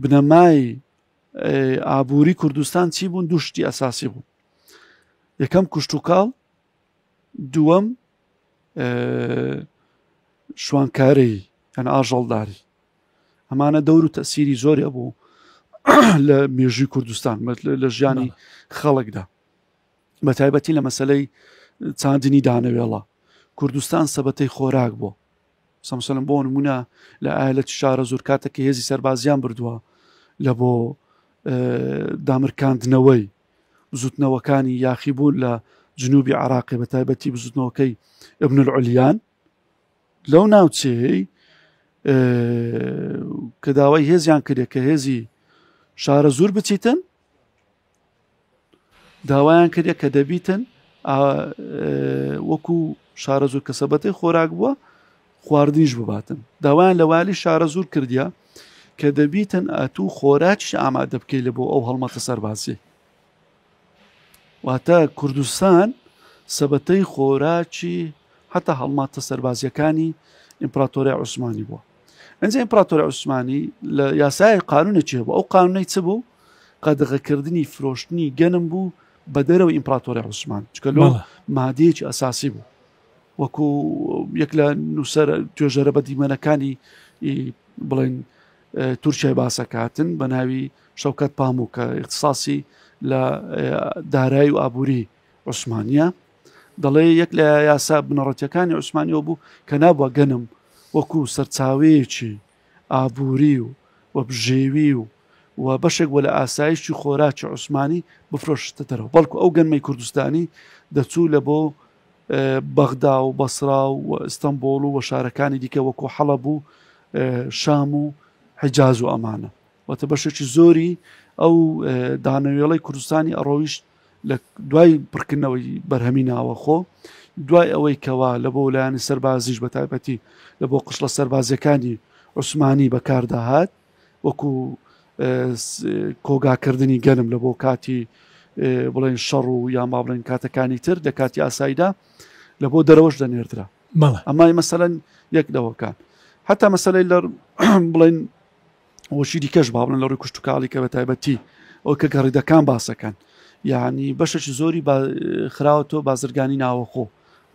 بنەمای ئابووری کوردستان چی بوون دوشتی ئەساسی بوو یەکەم کوشتتوکاڵ دووەم شوانکارەی ئەن ئاژەڵداری ئەمانە دەور و تەسیری زۆری بوو لە مێژووی کوردستان لە ژیانی خەڵکدا بە تایبەتی لە مەسلەی چاندنی دانەوێڵە کوردستان سەبەتەی خۆراک بوو سەمسەلم بۆ نمونە لە ئایا لە شارە زۆر کاتەکە هێزی سەربازیان بردووە لە بۆ دامرکاندنەوەی بزوتنەوەکانی یاخی بوون لە جنوبی عراقی بە تایبەتی بزوتنەوەکەی ابن العلیان لەو ناوچەیەی کە داوای هێزیان کرێت کە هێزی شارە زۆر بچیتن داوایان کرێت کە دەبیتن وەکو شارە زۆر کە سەبەتی خۆراک بووە خواردنیش بباتن داوایان لە والی شارە زۆر کردیا کە دەبیتن ئەتوو خۆراکیش ئامادە بکەیت لە بۆ ئەو هەڵمەتە سەربازی واتە کوردستان سەبەتەی خۆراکی حتا هەڵماتە سەربازیەکانی ئیمپراتۆری عوسمانی بووە ئەنج ئیمپراتۆری عوسمانی لە یاسای قانونێکی هەبوو ئەو قانونەی چ بوو قەدەغەکردنی فرۆشتنی گەنم بوو بە دەرەوە ئیمپراتۆری عوسمان چکە لۆ مادەیەکی ئەساسی بوو وەکو یەک لە نووسەر توێژەرە بە دیمەنەکانی بڵێن تورکیای باسەکاتن بە ناوی شەوکەت پاموو کە اختصاسی لە دارایی و ئابووری عوسمانە دەڵێ یەک لە یاسا بنەڕەتەکانی عوسمانیەوە بوو کە نابووە گەنم وەکو سەرچاوەیەکی ئابووری و و بژێوی و و بەشێک بۆ لە ئاسایشی خۆراکی عوسمانی بفرۆشتە دەرەوە بەڵکو ئەو گەنمەی کوردستانی دەچوو لە بۆ بەغدا و بەسڕا و ئیستەنبوڵ و شارەکانی دیکە وەکو حەڵەب و شام و حیجاز و ئەمانە وەتە بەشێکی زۆری ئەو دانەوێڵەی کوردستانی ئەڕۆیشت لە دوای پڕکردنەوەی بەرهەمی ناوە خۆ دوای ئەوەی کەوا لە بۆ لایەنی سەربازیش بە تایبەتی لە بۆ قشڵە سەربازیەکانی عوسمانی بەکارداهات وەکو کۆگا کردنی گەنم لە بۆ کاتی بڵێن شەڕ و یان با بڵێن کاتەکانی تر دە کاتی ئاساییدا لە بۆ دەرەوەش دەنێردرا ئەمای مەسەەن یەک دەوەکان حتا مەسلەی لە بڵێن وەشی دیکەش با بڵێن لە ڕووی کوشتتوکاڵی کە بە تایبەتی ئەو کە گەڕیدەکان باسەکەن یعنی بەشەشی زۆری خراوە تۆ بازرگانی ناوەخۆ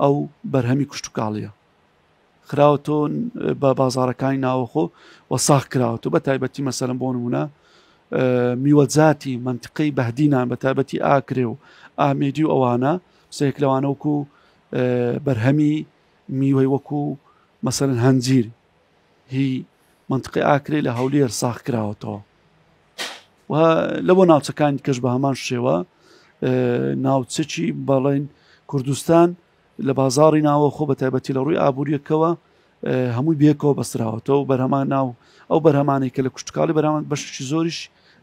ئەو بەرهەمی کوشتتوکاڵیە خراوەتەوە بە بازارەکانی ناوەخۆ و ساخ کراوەتەوە بە تایبەتی مەسەرم بۆ نمونە میوەجاتی منتقەی بەهدینان بە تابەتی ئاکرێ و ئامێدی و ئەوانە سێک لەوانەوەکو بەرهەمی میوەی وەکو مەسەرن هەنجیر هی منتقی ئاکرێ لە هەولێر ساخ کراوەتەوە و لەوە ناوچەکانی کەش بە هەمان شێوە ناوچەکی بەڵێن کوردستان لە بازاڕی ناوەخۆ بە تایبەتی لە ڕووی ئابوووریەکەوە هەمووی بێکەوە بەستراوەتەوە و بەرهەمان ناو ئەو بەرهەمانەی کە لە کوشتکاڵی بەرامان بەشی زۆریش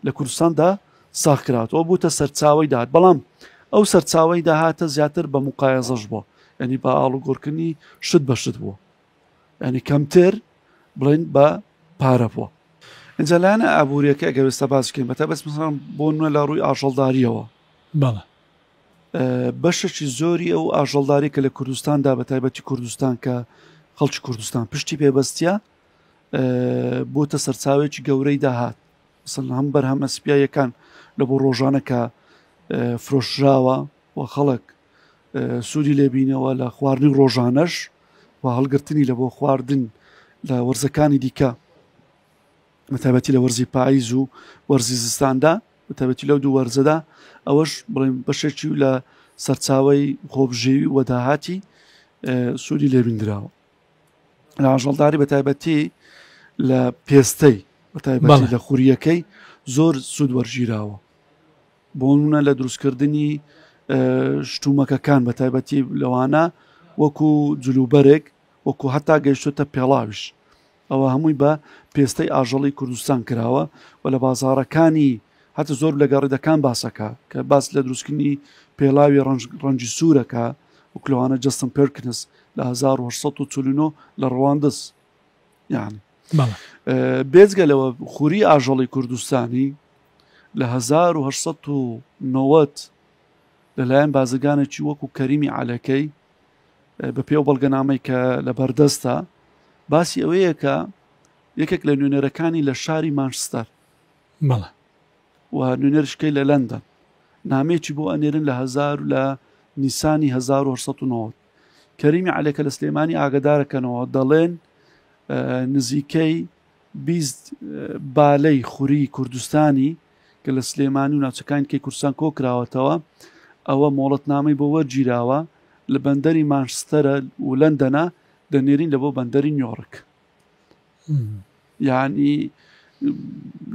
لە کوردستاندا ساخکراتەوە بووتە سەرچاوی داات بەڵام ئەو سەرچاوی داهاتە زیاتر بە مقایەزەش بووە ینی بە ئاڵوگۆرکردنی شت بە شت بووە ینی کەمتر بڵێن بە پارە بووە ئەجا لایەنە ئابوووریەکە گەوێستە باسکەین بەتە بەس بۆ نوێ لە ڕووی ئاژەڵداریەوە بەڵە بەشەکی زۆری ئەو ئاژەڵداری کە لە کوردستاندا بە تایبەتی کوردستان کە خەڵکی کوردستان پشتی پێبەستە بۆتە سەرچاوێکی گەورەی داهات سن هەم بەرهەمە سپیایەکان لە بۆ ڕۆژانە کە فرۆشراوە و خەڵک سوودی لێبینەوە لە خواردنی ڕۆژانەش و هەڵگرتنی لە بۆ خواردن لە وەرزەکانی دیکە بەتایبەتی لە وەرزی پاییز و وەرزی زستاندا بەتایبەتی لەو دوو وەرزەدا ئەوەش بڵێن بەشێکی و لە سەرچاوی خۆبژێوی و داهاتی سوودی لێبیندراوە لە ئاژەڵداری بەتایبەتی لە پێستەی بەتایبەتی لە خوریەکەی زۆر سوود وەرگیراوە بۆ منە لە دروستکردنی شتومەکەکان بە تایبەتی لەوانە وەکو جلوبەرێک وەکو هەتا گەیشتوتە پێڵاویش ئەوە هەمووی بە پێستەی ئاژەڵی کوردستان کراوە و لە بازاڕەکانی هەتە زۆر لە گەڕیدەکان باسەکە کە باس لە دروستکردنی پێڵاوی ڕەنجی سوورەکە و کلوانە جستم پێرکنس لە 1940 لە ڕواندز یعنی بێزگە لەوە خوری ئاژەڵی کوردستانی لە 1990 لەلایەن بازرگانێکی وەکو کەریمی عەلەکەی بەپێی ئەو بەڵگەنامەی کە لە بەردەستە باسی ئەوەیە کە یەکێک لە نوێنەرەکانی لە شاری مانشستەر بەڵە و نوێنەرشکەی لە لەندەن نامێکی بۆ ئەنێرن لە هزار لە نیسانی 1990 کەریمی عەلەکە لە سلێمانی ئاگدارەکەنەوە دەڵێن نزیکەی بیست بالەی خوری کوردستانی کە لە سلێمانی و ناوچەکانی دیکەی کوردستان کۆکراوەتەوە، ئەوە مۆڵەتنامەی بۆ وەرگیراوە، لە بەندەری مانشستەرە و لەندەنە دەنێرین لە بۆ بەندەری نیۆڕک. یعنی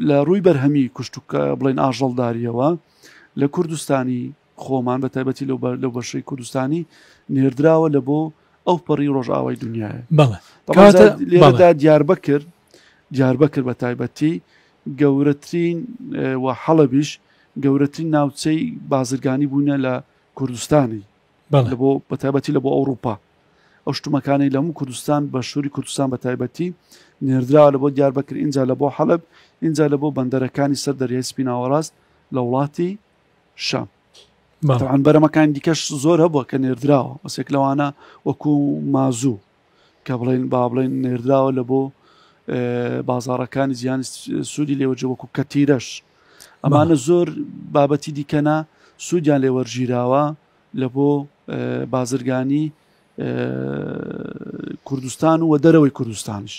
لە ڕووی بەرهەمی کوشتوکە بڵێن ئاژەڵداریەوە لە کوردستانی خۆمان بە تایبەتی لەو لەو بەشەی کوردستانی نێردراوە لە بۆ ئەو پەڕی ڕۆژئاوای دنیاە بەڵێدا دیار بکرد دیار بکرد بە تایبەتی گەورەترین و حەڵەبیش گەورەترین ناوچەی بازرگانی بوونە لە کوردستانی بۆ بە تایبەتی لە بۆ ئەوروپا ئەو شتومەکانی لەمو کوردستان بە شووری کوردستان بە تایبەتی نێردراوە لە بۆ دیار بکرد اینجا لە بۆ حەلب اینجا لە بۆ بەندەرەکانی سەر دەریای سپیناوەڕاست لە وڵاتی شام بەڵام بەرەمەکان دیکەش زۆر هەبووە کە نێردراوە بەسێک لەوانە وەکو مازوو کە بڵێن با بڵێن نێردراوە لە بۆ بازارەکانی زیان سوودی لێوەجە وەکو کەتیرەش ئەمانە زۆر بابەتی دیکەنا سوودیان لێ وەرگیراوە لە بۆ بازرگانی کوردستان و دەرەوەی کوردستانش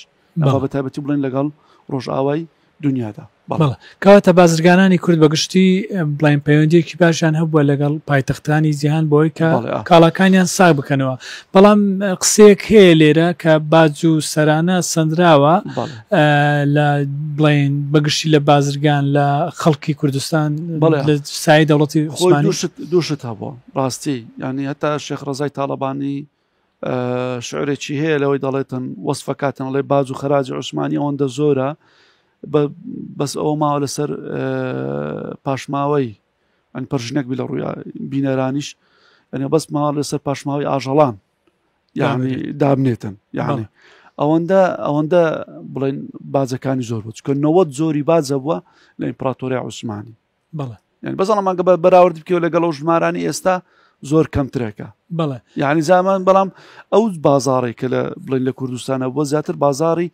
ئەوە بە تایبەتی بڵێن لەگەڵ ڕۆژئاوای دنیادا بەڵێ کەواتە بازرگانانی کورد بەگشتی بڵین پەیوەندیەکی باشیان هەبووە لەگەڵ پایتەختانی جیهان بۆی کە کاڵاکانیان ساگ بکەنەوە بەڵام قسەیەک هەیە لێرە کە باج و سەرانە سندراوە لە بڵین بەگشتی لە بازرگان لە خەڵکی کوردستان سای دەوڵەتی دووشت هەبووە ڕاستی یعنی هەتا شێخ ڕزای تاالبانی شعرێکی هەیە لەوەی دەڵێتن وەصفەکاتن ئەڵێ باج و خەراجی عوسمانی ئەوەندە زۆرە بەس ئەوە ماوە لەسەر پاشماوەی ئەن پرژنێک بی لە ڕووی بینەرانیش ئەنێ بەس ماوە لەسەر پاشماوەی ئاژەڵان یعنی دابنێتن یعنی ئەوەندە ئەوەندە بڵێن باجەکانی زۆر بچکە نەوەت زۆری باجە بووە لە ئیمپراتۆری عوسمانی بەڵێ یعنی بەزڵە مانگە بە بەراورد بکەوە لەگەڵ و ژمارانی ئێستا زۆر کەمترەکە بەڵێ یعنی زامان بەڵام ئەو بازارێک کە لە بڵین لە کوردستانە بۆ زیاتر بازاری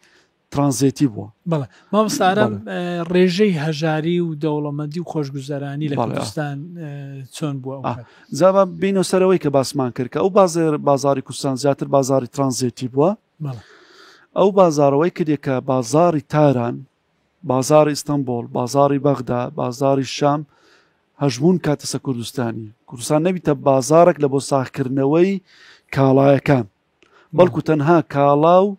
ترانزێتی بووە بەڵێ مامسارم ڕێژەی هەژاری و دەوڵەمەندی و خۆشگوزەرانی لە کوردستان چۆن بووە زاوا بینە سەرەوەی کە باسمان کرد کە ئەو بازێر بازاری کوردستان زیاتر بازاری ترانزێتی بووە ئەو بازارەوەی کردێکە بازاری تاران بازاڕی ئیستەنبوڵ، بازاڕی بەغدا، بازاڕی شام هەژموون کاتەسە کوردستانی کوردستان نەبیتە بازارێک لە بۆ ساخکردنەوەی کاڵایەکان بەڵکو تەنها کاڵا و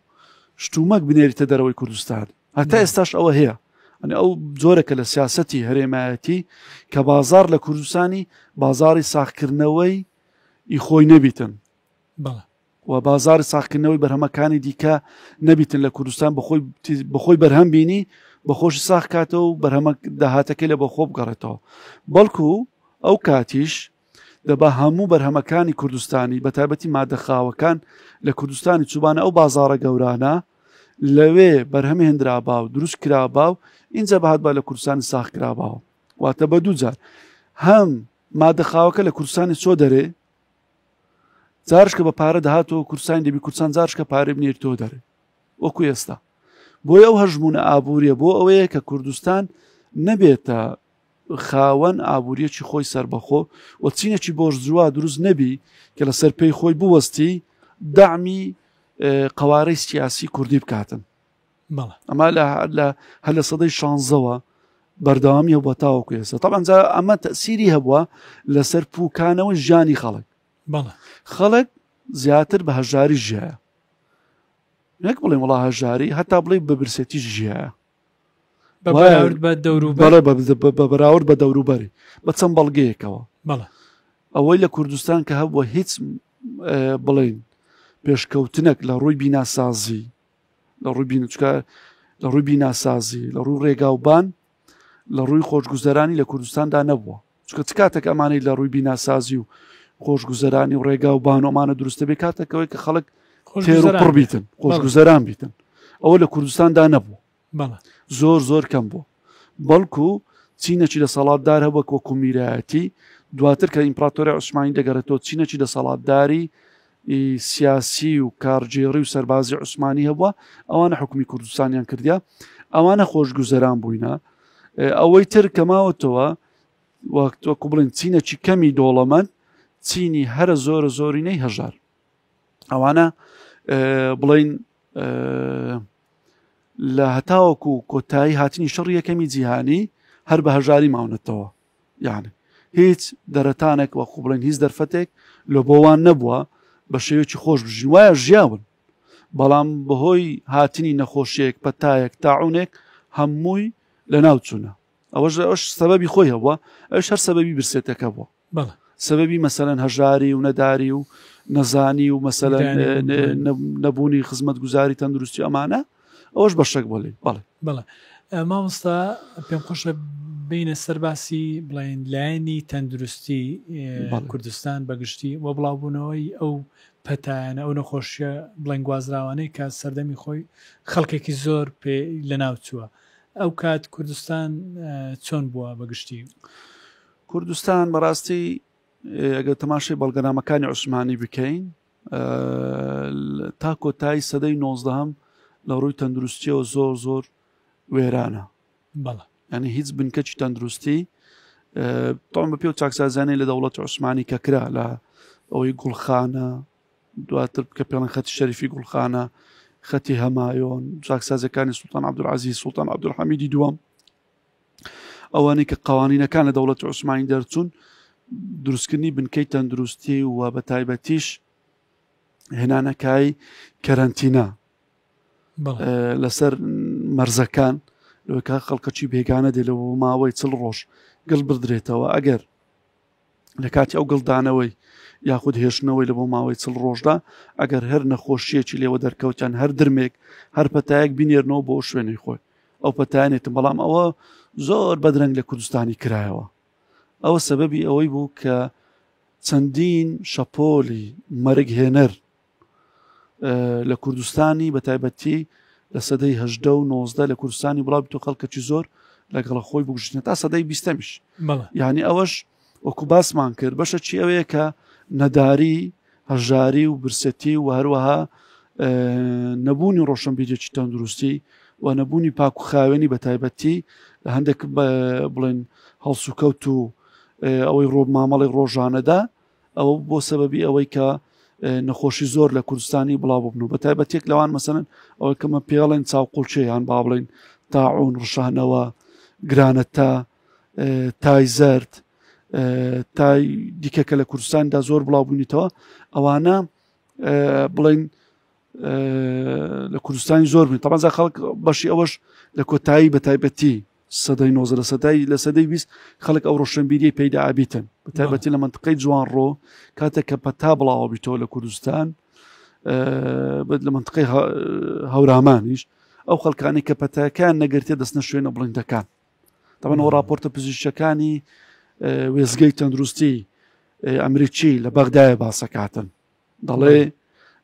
شتومەک بنێریتە دەرەوەی کوردستان هەتا ئێستاش ئەوە هەیە ئەنی ئەو جۆرەکە لە سیاستی هەرێمایەتی کە بازار لە کوردستانی بازاری ساخکردنەوەی ئی خۆی نەبیتن و بازاری ساخکردنەوەی بەرهەمەکانی دیکە نەبیتن لە کوردستان بەخۆی بەخۆی بەرهەم بینی بەخۆشی ساخ کاتەوە و بەرهەمە داهاتەکەی لە بەخۆ بگەڕێتەوە بەڵکو ئەو کاتیش دەبا هەموو بەرهەمەکانی کوردستانی بە تایبەتی مادەخاوەکان لە کوردستانی چوبانە ئەو بازارە گەورانە لەوێ بەرهەم هێنرابا و دروست کرابا و اینجا بەهات بە لە کوردستانی ساخ کراباوە واتە بە دووجار هەم مادەخاوەکە لە کوردستانی چۆ دەرێ جارشکە بە پارە دەهاتەوە کورسانی دەبی کورسان جارشکە پارێ بنێر تۆ دەرێ وەکو ئێستا بۆی ئەو هەژمونە ئابووریە بۆ ئەوەیە کە کوردستان نەبێتە خاوەن ئابووریەکی خۆی سربەخۆ و چینێکی بۆش جووا دروست نەبی کە لەسەر پێی خۆی بوەستی دامی قوارەی سیاسی کوردی بکاتن ئەمە هەر لە سەدەی شانزەوە بەردەوامی هەبووە تاوەکو ئێستا تاانجا ئەمە تەسیری هەبووە لەسەر پوکانەوە ژیانی خەڵک خەڵک زیاتر بە هەژاری ژایە نەک بڵێ وڵا هەژاری هەتا بڵێ بە برسێتی ژایە بە بەراورد بە دەوروبەری بە چەند بەڵگەیەکەوە ئەوەی لە کوردستان کە هەبووە هیچ بڵین پێشکەوتنەک لە ڕووی بیناسازی لە ڕووی بینچکە لە ڕووی بیناسازی لە ڕووی ڕێگاوبان لە ڕووی خۆشگوزەرانی لە کوردستاندا نەبووە چکە چ کاتێک ئەمانەی لە ڕووی بیناسازی و خۆشگوزەرانی و ڕێگا و بانۆمانە دروستە بێ کاتەکەەوەی کە خەڵک خۆشگوزەران بیتن خۆشگوزەران بیتن ئەوە لە کوردستاندا نەبوو زۆر زۆر کەم بوو بەڵکو چینەکی دەسەڵاتدار هەبووە وەکو میرایەتی دواتر کە ئیمپراتۆری عوسمانی دەگەڕێتەوە چینەکی دەسەڵاتداری سیاسی و کارگێڕی و سەربازی عوسمانی هەبووە ئەوانە حکومی کوردستانیان کردیا ئەوانە خۆشگوزەران بووینە ئەوەی تر کەماوەتەوە وەکو بڵین چینەکی کەمی دۆڵەمەند چینی هەرە زۆرە زۆرینەی هەژار ئەوانە بڵین لە هەتاوەکو کۆتایی هاتنی شەڕی یەکەمی جیهانی هەر بە هەژاری ماونەتەوە یعنی هیچ دەرەتانێک وە قوبڵێن هیچ دەرفەتێک لە بۆوان نەبووە بە شێوێکی خۆش بژین وایە ژیاون بەڵام بەهۆی هاتنی نەخۆشیێک پەتایەک تاعونێک هەمووی لە ناوچوونە ئەوەش ئەوش سەبەبی خۆی هەبووە ئەوش هەر سەبەبی برسێتەکە بووە بەڵێ سەبەبی مەسەەن هەژاری و نەداری و نەزانی و مەسەەن نەبوونی خزمەت گوزاری تەندروستی ئەمانە ئەوش بەشێک بۆ لێ بەڵێ بەڵێ مامۆستا پێم خۆشە بینە سەرباسی بڵین لایەنی تەندروستی کوردستان بەگشتی و بڵاوبوونەوەی ئەو پەتایانە ئەو نەخۆشیە بڵێن گوازراوانەی کە سەردەمی خۆی خەڵکێکی زۆر پێ لە ناوچووە ئەو کات کوردستان چۆن بووە بەگشتی کوردستان بەڕاستی ئەگەر تەماشای بەڵگەنامەکانی عوسمانی بکەین تا کۆتایی سەدەی نۆزدەهم لە ڕووی تەندروستیەوە زۆر زۆر وێرانە بەڵە ینی هیچ بنکەچی تەندروستی تۆم بە پێ و چاکسازانەی لە دەوڵەت عوسمانی کە کرا لە ئەوەی گوڵخانە دواتر بکە پێڵەن خەتی شەریفی گوڵخانە خەتی هەمایۆن چاکسازەکانی سوڵتان عبدالعزیز سوڵتان عبدالحمیدی دووەم ئەوانەی کە قوانینەکان لە دەوڵەتی عوسمانی دەرچوون دروستکردنی بنکەی تەندروستی و بە تایبەتیش هێنانەکای کەرەنتینا لەسەر مەرزەکان لەوەکە خەڵکەچی بێگانە دێ لە ماوەی چل ڕۆژ گەڵ بدرێتەوە ئەگەر لە کاتی ئەو گڵدانەوەی یاخود هێشتنەوەی لە بۆ ماوەی چڵ ڕۆژدا ئەگەر هەر نەخۆشیەکی لێوە دەرکەوتیان هەر درمێک هەر پەتایەک بینێرنەوە بۆ شوێنی خۆی ئەو پەتانێتم بەڵام ئەوە زۆر بەدرەنگ لە کوردستانی کرایەوە ئەوە سەبەبی ئەوەی بوو کە چەندین شەپۆلی مەرگهێنەر لە کوردستانی بە تایبەتی لە سەدەی هەشدە و نۆزدە لە کوردستانی بڵاو بتو خەڵکەکی زۆر لەگەڵە خۆی بگوشتنە تا سەدەی بیستەمیش یعنی ئەوەش وەکو باسمان کرد بەشە چی ئەوەیە کە نەداری هەژاری و برسەتی و هەروەها نەبوونی ڕۆشنبیرێکی تەندروستی و نەبوونی پاک و خاوێنی بە تایبەتی لە هەندێک بڵێن هەڵسوکەوت و ئەوەی ڕۆ مامەڵی ڕۆژانەدا ئەوە بۆ سەبەبی ئەوەی کە نەخۆشی زۆر لە کوردستانی بڵاو ببن و بە تایبەتێک لەوان مەسەن ئەوەی کەمە پێڵێن چاوقڵچێیان با بڵین تاعون ڕشانەوە گرانە تا تای زرد تای دیکە کە لە کوردستاندا زۆر بڵاو بوونیتەوە ئەوانە بڵین لە کوردستانی زۆر بن تەمەزا خەڵک بەشی ئەوەش لە کۆتایی بە تایبەتی سەدەی نۆزدە لە سەدای لە سەدەی بیست خەڵک ئەو ڕۆشنبیری پەیدا ئابیتن بە تایبەتی لە منطقەی جوانڕۆ کاتێک کە پەتا بڵاوە بیتەوە لە کوردستان بێت لە منطقەی هەورامانیش ئەو خەڵکانی کە پەتاکان نەگرتێ دەستنە شوێنە بڵندەکان تەمەەوە راپۆرتە پزیشەکانی وێزگەی تەندروستی ئەمریکی لە بەغدایە باسەکاتن دەڵێ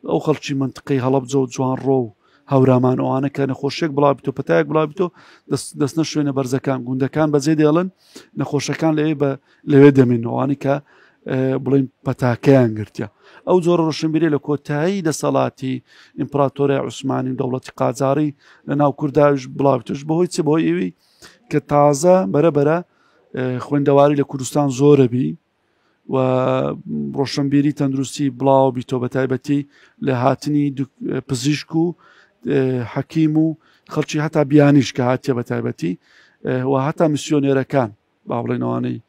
ئەو خەڵکی منتقەی هەڵبجە و جوان ڕۆ و هەورامان ئەوانە کە نەخۆشیێک بڵاوبیتۆ پتایەک بڵاوبیتۆ دەستنە شوێنە بەرزەکان گوندەکان بەجێ دێڵن نەخۆشەکان لەوێ بە لەوێ دەمێنەوەوانی کە بڵین پەتاکەیان گرتە ئەو جۆرە ڕۆشنبیری لە کۆتایی دەسەڵاتی ئیمپراتۆرە عوسمانی و دەوڵەتی قاجاری لە ناو کوردداش بڵاوتش بەهۆی چ بۆ ئەوی کە تازە بەرەبەرە خوێندەواری لە کوردستان زۆرە بی و ڕۆشنبیری تەندروستی بڵاو بیتۆ بە تایبەتی لە هاتنی پزیشک و حەکیم و خەڵکی هەتا بیانیش کە هاتیە بە تایبەتی و هەتا میسیۆنێرەکان با بڵێنەوانەی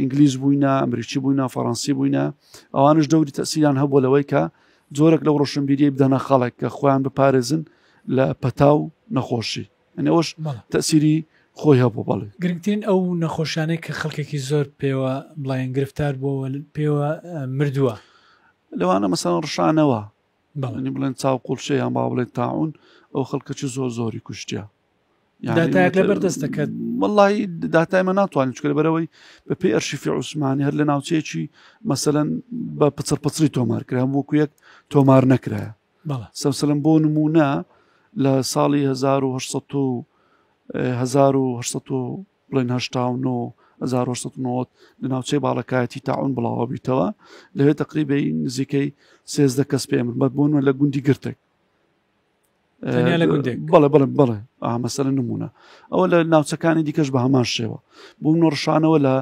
ئینگلیز بووینە ئەمریکی بووینە فەڕەنسی بووینە ئەوانش دەوری تەسییان هەبوو لەوەی کە زۆرەک لەو ڕۆشنبیری بدەنە خەڵک کە خۆیان بپارێزن لە پەتا و نەخۆشی ئەنی ئەوەش تەسیری خۆی هەبوو بەڵێ گرنگترین ئەو نەخۆشانەی کە خەڵکێکی زۆر پێوە بڵێن گرفتار بووەوە پێوە مردووە لەوانە مەسەن ڕشانەوە بەڵنی بڵێن چاو قوڵشە یان با بڵێن تاعون ئەو خەڵکەچی زۆر زۆری کوشتیا داتایەک لە بەردەست دەکات وڵی داتایمە ناتوانین چکە بەرەوەی بە پێی ئەرشیفی عوسمانی هەر لە ناوچەیەکی مەسەەن بە پچڕ پچری تۆمار کرا وەکو یەک تۆمار نەکرایە سەوسلم بۆ نمونە لە ساڵی 1970 لە ناوچەی باڵەکایەتی تاعون بڵاوە بیتەوە لەوێ تقریبی نزیکەی سێزدە کەس پێ من بەت بوون لە گوندی گرتێک بەڵێ بڵێ بڵێ ئامەسەر نمونە ئەوە لە ناوچەکانی دیکەش بە هەمان شێوە بووم نۆڕشانەوە لە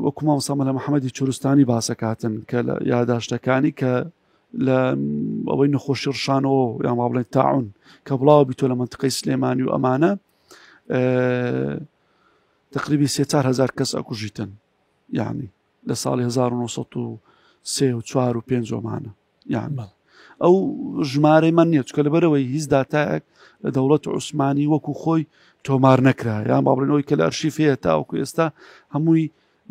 وەکو مامۆستا مەلا محەممەدی چورستانی باسەکاتن کە لە یاداشتەکانی کە لە ئەوەی نەخۆشی ڕشانەوە یان ما بڵێن تاعون کە بڵاوە بیتۆ لە منتقی سلێمانی و ئەمانە تقریبی سهزار کەس ئەکوژیتن یعنی لە ساڵی 1940 و 4 و پێنجۆمانە یانمە ئەو ژمارەی من نیە چکە لەبەرەوەی هیچ داتایەک لە دەوڵەت عوسمانی وەکو خۆی تۆمار نەکرا یان باڵێنەوەی کە لە ئەرشیفەیە تاوەکو ئێستا هەمووی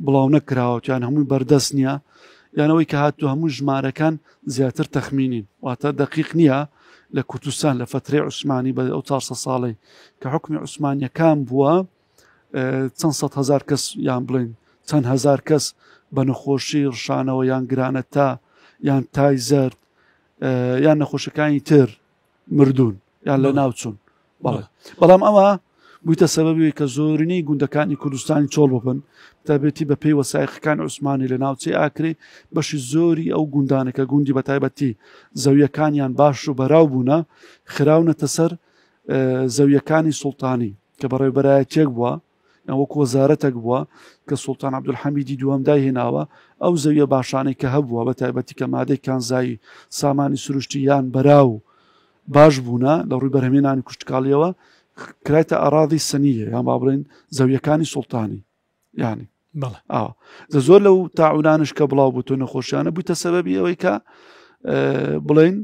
بڵاو نەکراوەتیان هەمووی بەردەست نییە یانەوەی کە هاتو هەموو ژمارەکان زیاتر تەخمینین واتە دقیق نییە لە کوردستان لە فترەی عوسمانی بە ئەو 400 ساڵی کە حکومی عوسمانیەکان بووە چەند سەد هەزار کەس یان بڵێن چەند هەزار کەس بە نەخۆشی ڕشانەوە یان گرانە تا یان تای زرد یان نەخۆشەکانی تر مردوون یان لە ناوچون بەڵام ئەوە بوویتە سەبەبی کە زۆرینەی گوندەکانی کوردستانی چۆڵ ببن تابێتی بە پێی وەسایقەکان عوسمانی لە ناوچەی ئاکرێ بەشی زۆری ئەو گوندانەکە گوندی بە تایبەتی زەویەکانیان باش و بەراو بوونە خراونەتە سەر زەویەکانی سوڵتانی کە بەڕێوبەرایەتیەک بوە یان وەک وەزارەتەک بوە کە سوڵتان عبدولحەمیدی دووەم دای هێناوە ئەو زەویە باشانەی کە هەبووە بە تایبەتی کە مادەی کانزایی سامانی سروشتی یان بەراو باش بوونە لە ڕووی بەرهمێنانی کوشتکاڵیەوە کرایتە ئاراضی سنیە یان با بڵێن زەویەکانی سوڵتانی ینی ئاوە دە زۆر لەو تاعودانش کە بڵاو بوو تۆ نەخۆشیانە بوویتە سەبەبی ئەوەی کە بڵین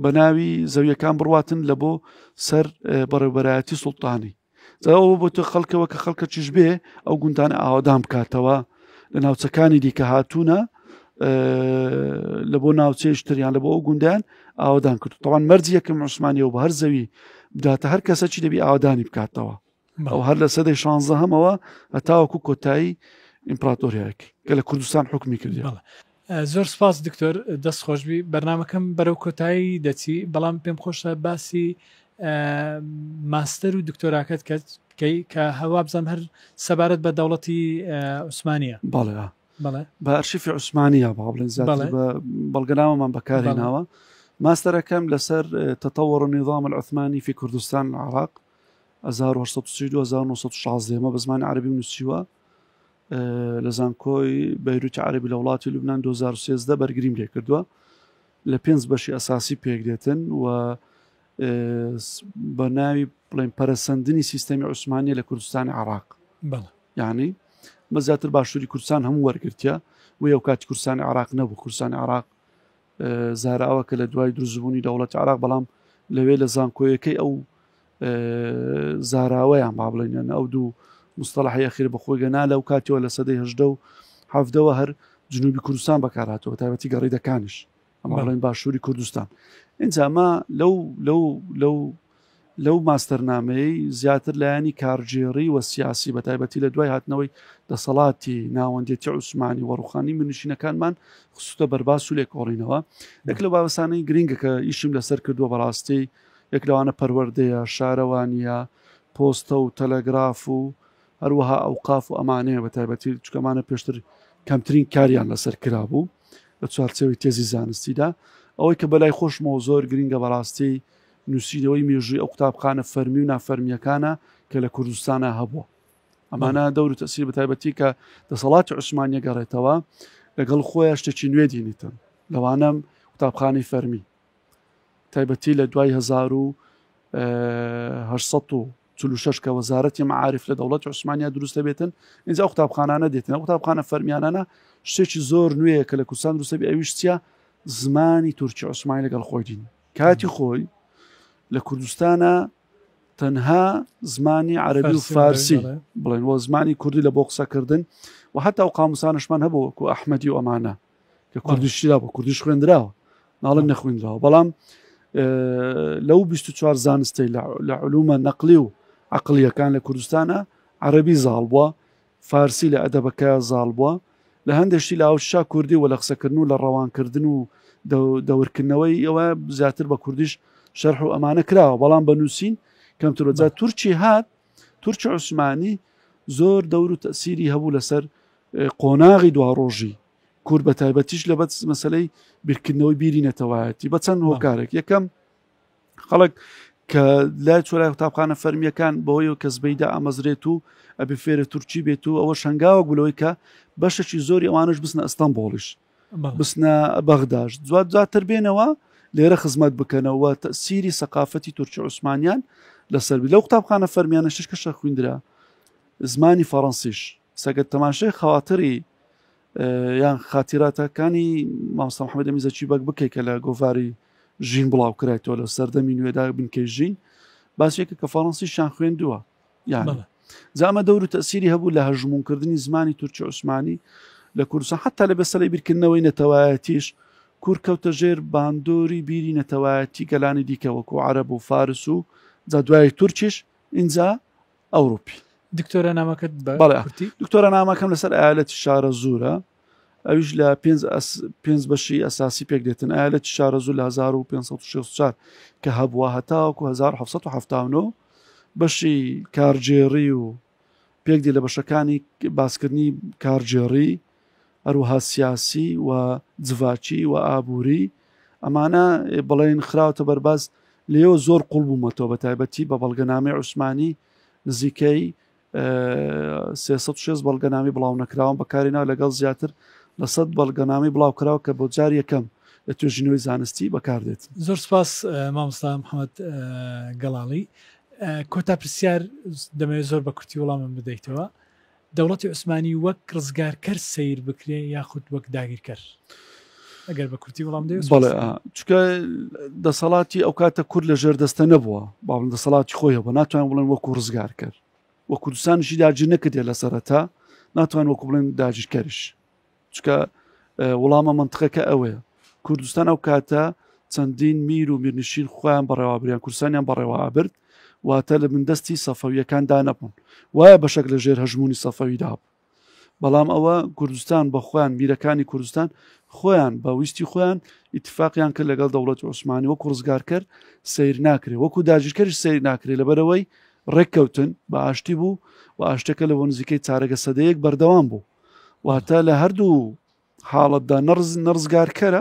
بە ناوی زەویەکان بڕاتن لە بۆ سەر بەڕێوبەرایەتی سوڵتانی زەوە بۆ تۆ خەڵکەوە کە خەڵکە چیش بێ ئەو گوندان ئاوادان بکاتەوە لە ناوچەکانی دیکە هاتوونە لە بۆ ناوچەیشتریان لە بۆ ئەو گوندیان ئاوادان کرد تەوان مەرجیەکە عوسمانیەوە بە هەر زەوی بداتە هەر کەسەکی دەبی ئاوادانی بکاتەوە بەڵ هەر لە سەدەی شانزە هەمەوە هەتاوەکو کۆتایی ئیمپراتۆریاک کە لە کوردستان حکومی کردی زۆر سپاس دکتۆر دەست خۆشببی بەرنمەکەم بەرەو کۆتایی دەچی بەڵام پێم خۆشە باسی ماستەر و دکتۆراکەت کە بکەی کە هەوا بزانم هەر سەبارەت بە دەوڵەتی عوسمانە بەڵێ بەڵێ بە ئەرشیفی عوسمانە با بڵێن بەڵگەناوەمان بەکارێناوە ماستەرەکەم لەسەر تەتەوەڕ نیظام العثمانی في کوردستان عراق هەزار و هەشت سەد و سی و دوو هەزار و نۆ سەد و شازدە ئێمە بە زمانی عەرەبیم نووسیوە لە زانکۆی بەیروتی عەربی لە وڵاتی لوبنان 2013 بەرگریم لێ کردووە لە پێنج بەشی ئەساسی پێک دێتن و بە ناوی بڵێن پەرسەندنی سیستەمی عوسمانە لە کوردستانی عراق یعنی بە زیاتر باشووری کوردستان هەموو وەرگرتە و ئەو کاتی کوردستانی عراق نەبوو کوردستانی عراق زاراوە کە لە دوای دروزبوونی دەوڵەتی عراق بەڵام لەوێ لە زانکۆیەکەی ئەو زاراوەیان با بڵێنیان ئەو دوو مستەڵحی ئەخیر بە خۆی گەنا لەو کاتیەوە لە سەدەی هەشدە و حەفدەوە هەر جنوبی کوردستان بەکارهاتەوە تایبەتی گەڕیدەکانش ئەمەڵێن باشووری کوردستان ئینجا ئەمە لەو لەو لەو لەو ماستەرنامەیەی زیاتر لایەنی کارگێڕی و سیاسی بە تایبەتی لە دوای هاتنەوەی دەسەڵاتی ناوەندێتی عوسمانی و ڕوخانی منشینەکانمان خستە بەرباس و لێکۆڵینەوە یەک لە باوەسانەی گرنگە کە ئیشم لەسەر کردووە بەڕاستی یەک لەوانە پەروەردەیە شارەوانیە پۆستە و تەلەگراف و هەروەها ئەو قاف و ئەمانەیە بە تایبەتی چکەمانە پێشتر کەمترین کاریان لەسەر کرابوو لە چوارچەوەی تێزی زانستیدا ئەوەی کە بەلای خۆشمەوە زۆر گرنگە بەڕاستی نووسینەوەی مێژووی ئەو قوتابخانە فەرمی و نافەرمییەکانە کە لە کوردستانە هەبووە ئەمانە دەور و تەسیر بە تایبەتی کە دەسەڵاتی عوسمانە گەڕێتەوە لەگەڵ خۆیان شتێکی نوێ دینیتن لەوانم قوتابخانەی فەرمی تایبەتی لە دوای 1946 کە وەزارەتی معاعرف لە دەوڵەت عوسمانیا دروست دەبێتن اینجا قوتابخانانە دێتن قوتابخانە فەرمیانانە شتێکی زۆر نوێیە کە لە کوردستان دروستەبی ئەویشتە زمانی تورکی عوسمانی لەگەڵ خۆی دین کاتی خۆی لە کوردستانە تەنها زمانی عەربی و فارسی بڵێن وە زمانی کوردی لە بۆ قسەکردن و حتا و قاموسانشمان هەبووەکو ئەحمەدی و ئەمانە کە کوردیشترا بۆ کوردیش خوێندراوە ناڵم نەخوێنراوە بەڵام لەو 24 زانستی لە علومە نەقلی و عقلیەکان لە کوردستانە عەربی زاڵ بووە فارسی لە ئەدەبەکە زاڵ بوە. لە هەندێ شتی لە ئاوچشا کوردی و لە قسەکردن و لە ڕەوانکردن و دەورکردنەوەی ئەوە زیاتر بە کوردیش شەرح و ئەمانە کراوە بەڵام بە نووسین کەمترۆ جا تورکی هات تورکی عوسمانی زۆر دەور و تەسیری هەبوو لەسەر قۆناغی دوا ڕۆژی کورد بە تایبەتیش لە بەت مەسلەی بیرکردنەوەی بیری نەتەوایەتی بە چەند هۆکارێک یەکەم خەڵک کە لای چۆرای قوتابخانە فەرمیەکان بەوەی کە زبەیدا ئامەزرێت و ئەبێ فێرە تورکی بێت و ئەوە شنگاوە گولەوەی کە بەشەکی زۆری ئەوانش بستنە ئەستان بۆڵیش بستنە بەغداش دوات دواتر بێنەوە لێرە خزمەت بکەنەوە سیری سەقافەتی تورکی عوسمانیان لەسەر لەو قوتابخانە فەرمیانە شش کەشە خوێندرا زمانی فەڕەنسیش سەگەت تەماشای خااتری یان خاتیراتە کانی مامۆستا محەممەد ئەمین زەکی بەگ بکەیت کە لە گۆڤاری ژین بڵاو کرایتەوە لە سەردەمی نوێدا بنکەی ژین باسێکە کە فەڕەنسیشان خوێندووە یان بەڵێ زامە دەور و تەسیری هەبوو لە هەژمونکردنی زمانی تورکی عوسمانی لە کوردستان حتا لە بەسەری بیرکردنەوەی نەتەوایەتیش کور کەوتە ژێر باندۆری بیری نەتەوایەتی گەلانی دیکە وەکو عرب و فارس و جا دوای تورکیش اینجا ئەوروپی دکتۆرە نامەکەت بەڵێتی دکتۆرە نامەکەم لەسەر ئالەتی شارە زورە ئەویش لە پێنج بەشی ئەساسی پێک دێتن ئالەتی شارە زور لە 1564 کە هەبووە هەتاوەکو 1970 بەشی کارجێڕی و پێک دی لە بەشەکانی باسکردنی کارجێڕی هەروەها سیاسی و جڤاکی و ئابووری ئەمانە بڵێن خراوتە بەرباز لێەوە زۆر قوڵ بوومەتەوە بە تایبەتی بە بەڵگەنامی عوسمانی نزیکەی 360 بەڵگەنامی بڵاو نەکراوە بەکاری ناو لەگەڵ زیاتر لە سەد بەڵگەنامی بڵاو کراوە کە بۆ جار یەکەم لە توێژینەوەی زانستی بەکاردێت زۆر سپاس مامۆستا محەممەد گەڵاڵی کۆتا پرسیار دەمەوێت زۆر بە کورتی وڵامم بدەیتەوە دەوڵەتی عوسمانی وەک ڕزگارکەر سەیر بکرێ یاخود وەک داگیرکەر؟ ئەگەر بە کورتی وڵام دەوێت چکە دەسەڵاتی ئەو کاتە کورد لە ژێر دەستە نەبووە باڵم دەسەڵاتی خۆی هەبوو ناتوان بڵێن وەکو ڕزگار کرد وە کوردستانشی داجی نەکردێت لە سەرەتا ناتوان وەکو بڵێن داجیکەرش چکە وڵامە منتقەکە ئەوەیە کوردستان ئەو کاتە چەندین میر و میرنشین خۆیان بەڕێوابریان کورسانیان بەڕێوە ئابرد واتە لە من دەستی سەفەویەکان دانەبوون وایە بەشک لە ژێر هەژمونی سەفەویدا بوو بەڵام ئەوە کوردستان بە خۆیان میرەکانی کوردستان خۆیان بە ویستی خۆیان ئیتفاقیان کرد لەگەڵ دەوڵەت عوسمانی وەکو ڕزگارکەر سیر ناکرێ وەکو داژیرکەری سیر ناکرێ لەبەرەوەی ڕێککەوتن بە ئاشتی بوو و ئاشتەکە لە بۆ نزیکەی چارەگە سەدەیەک بەردەوام بوو واتە لە هەردوو حاڵەتدا نەرز نەرزگارکەرە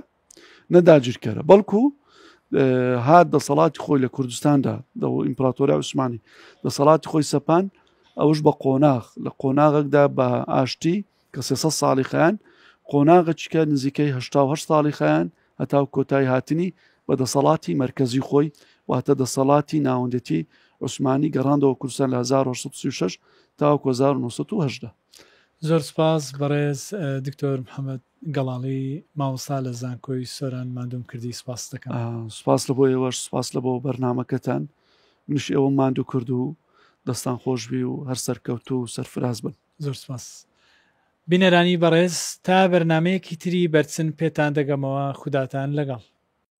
نەداگیرکەرە بەڵکو هات دەسەڵاتی خۆی لە کوردستاندا دە ئیمپراتۆریا عوسمانی دەسەڵاتی خۆی سەپان ئەوش بە قۆناغ لە قۆناغێکدا بە ئاشتی کە سێسە ساڵی خیان قۆناغەچکە نزیکەیه ساڵی خیان هەتاو کۆتای هاتنی بە دەسەڵاتی مرکزی خۆی واتە دەسەڵاتی ناوەندێتی عوسمانی گەڕاندەوە کورسان لە 1936 تاوەکو 1970 زۆر سوپاس بەڕێز دکتۆر محمد گەڵاڵی مامۆستا لە زانکۆی سۆران ماندووم کردی سوپاست دەکەم. سوپاس لە بۆ ئێوەش سوپاس لە بۆ بەرنمەکەتان منش ئێوە ماندوو کرد و دەستان خۆشبی و هەر سەرکەوتو و سەرفراز بن زۆر سوپاس. بینەرانی بەڕێز تا بەرنامەیەکی تری بەرچن پێتان دەگەمەوە خوداتان لەگەڵ.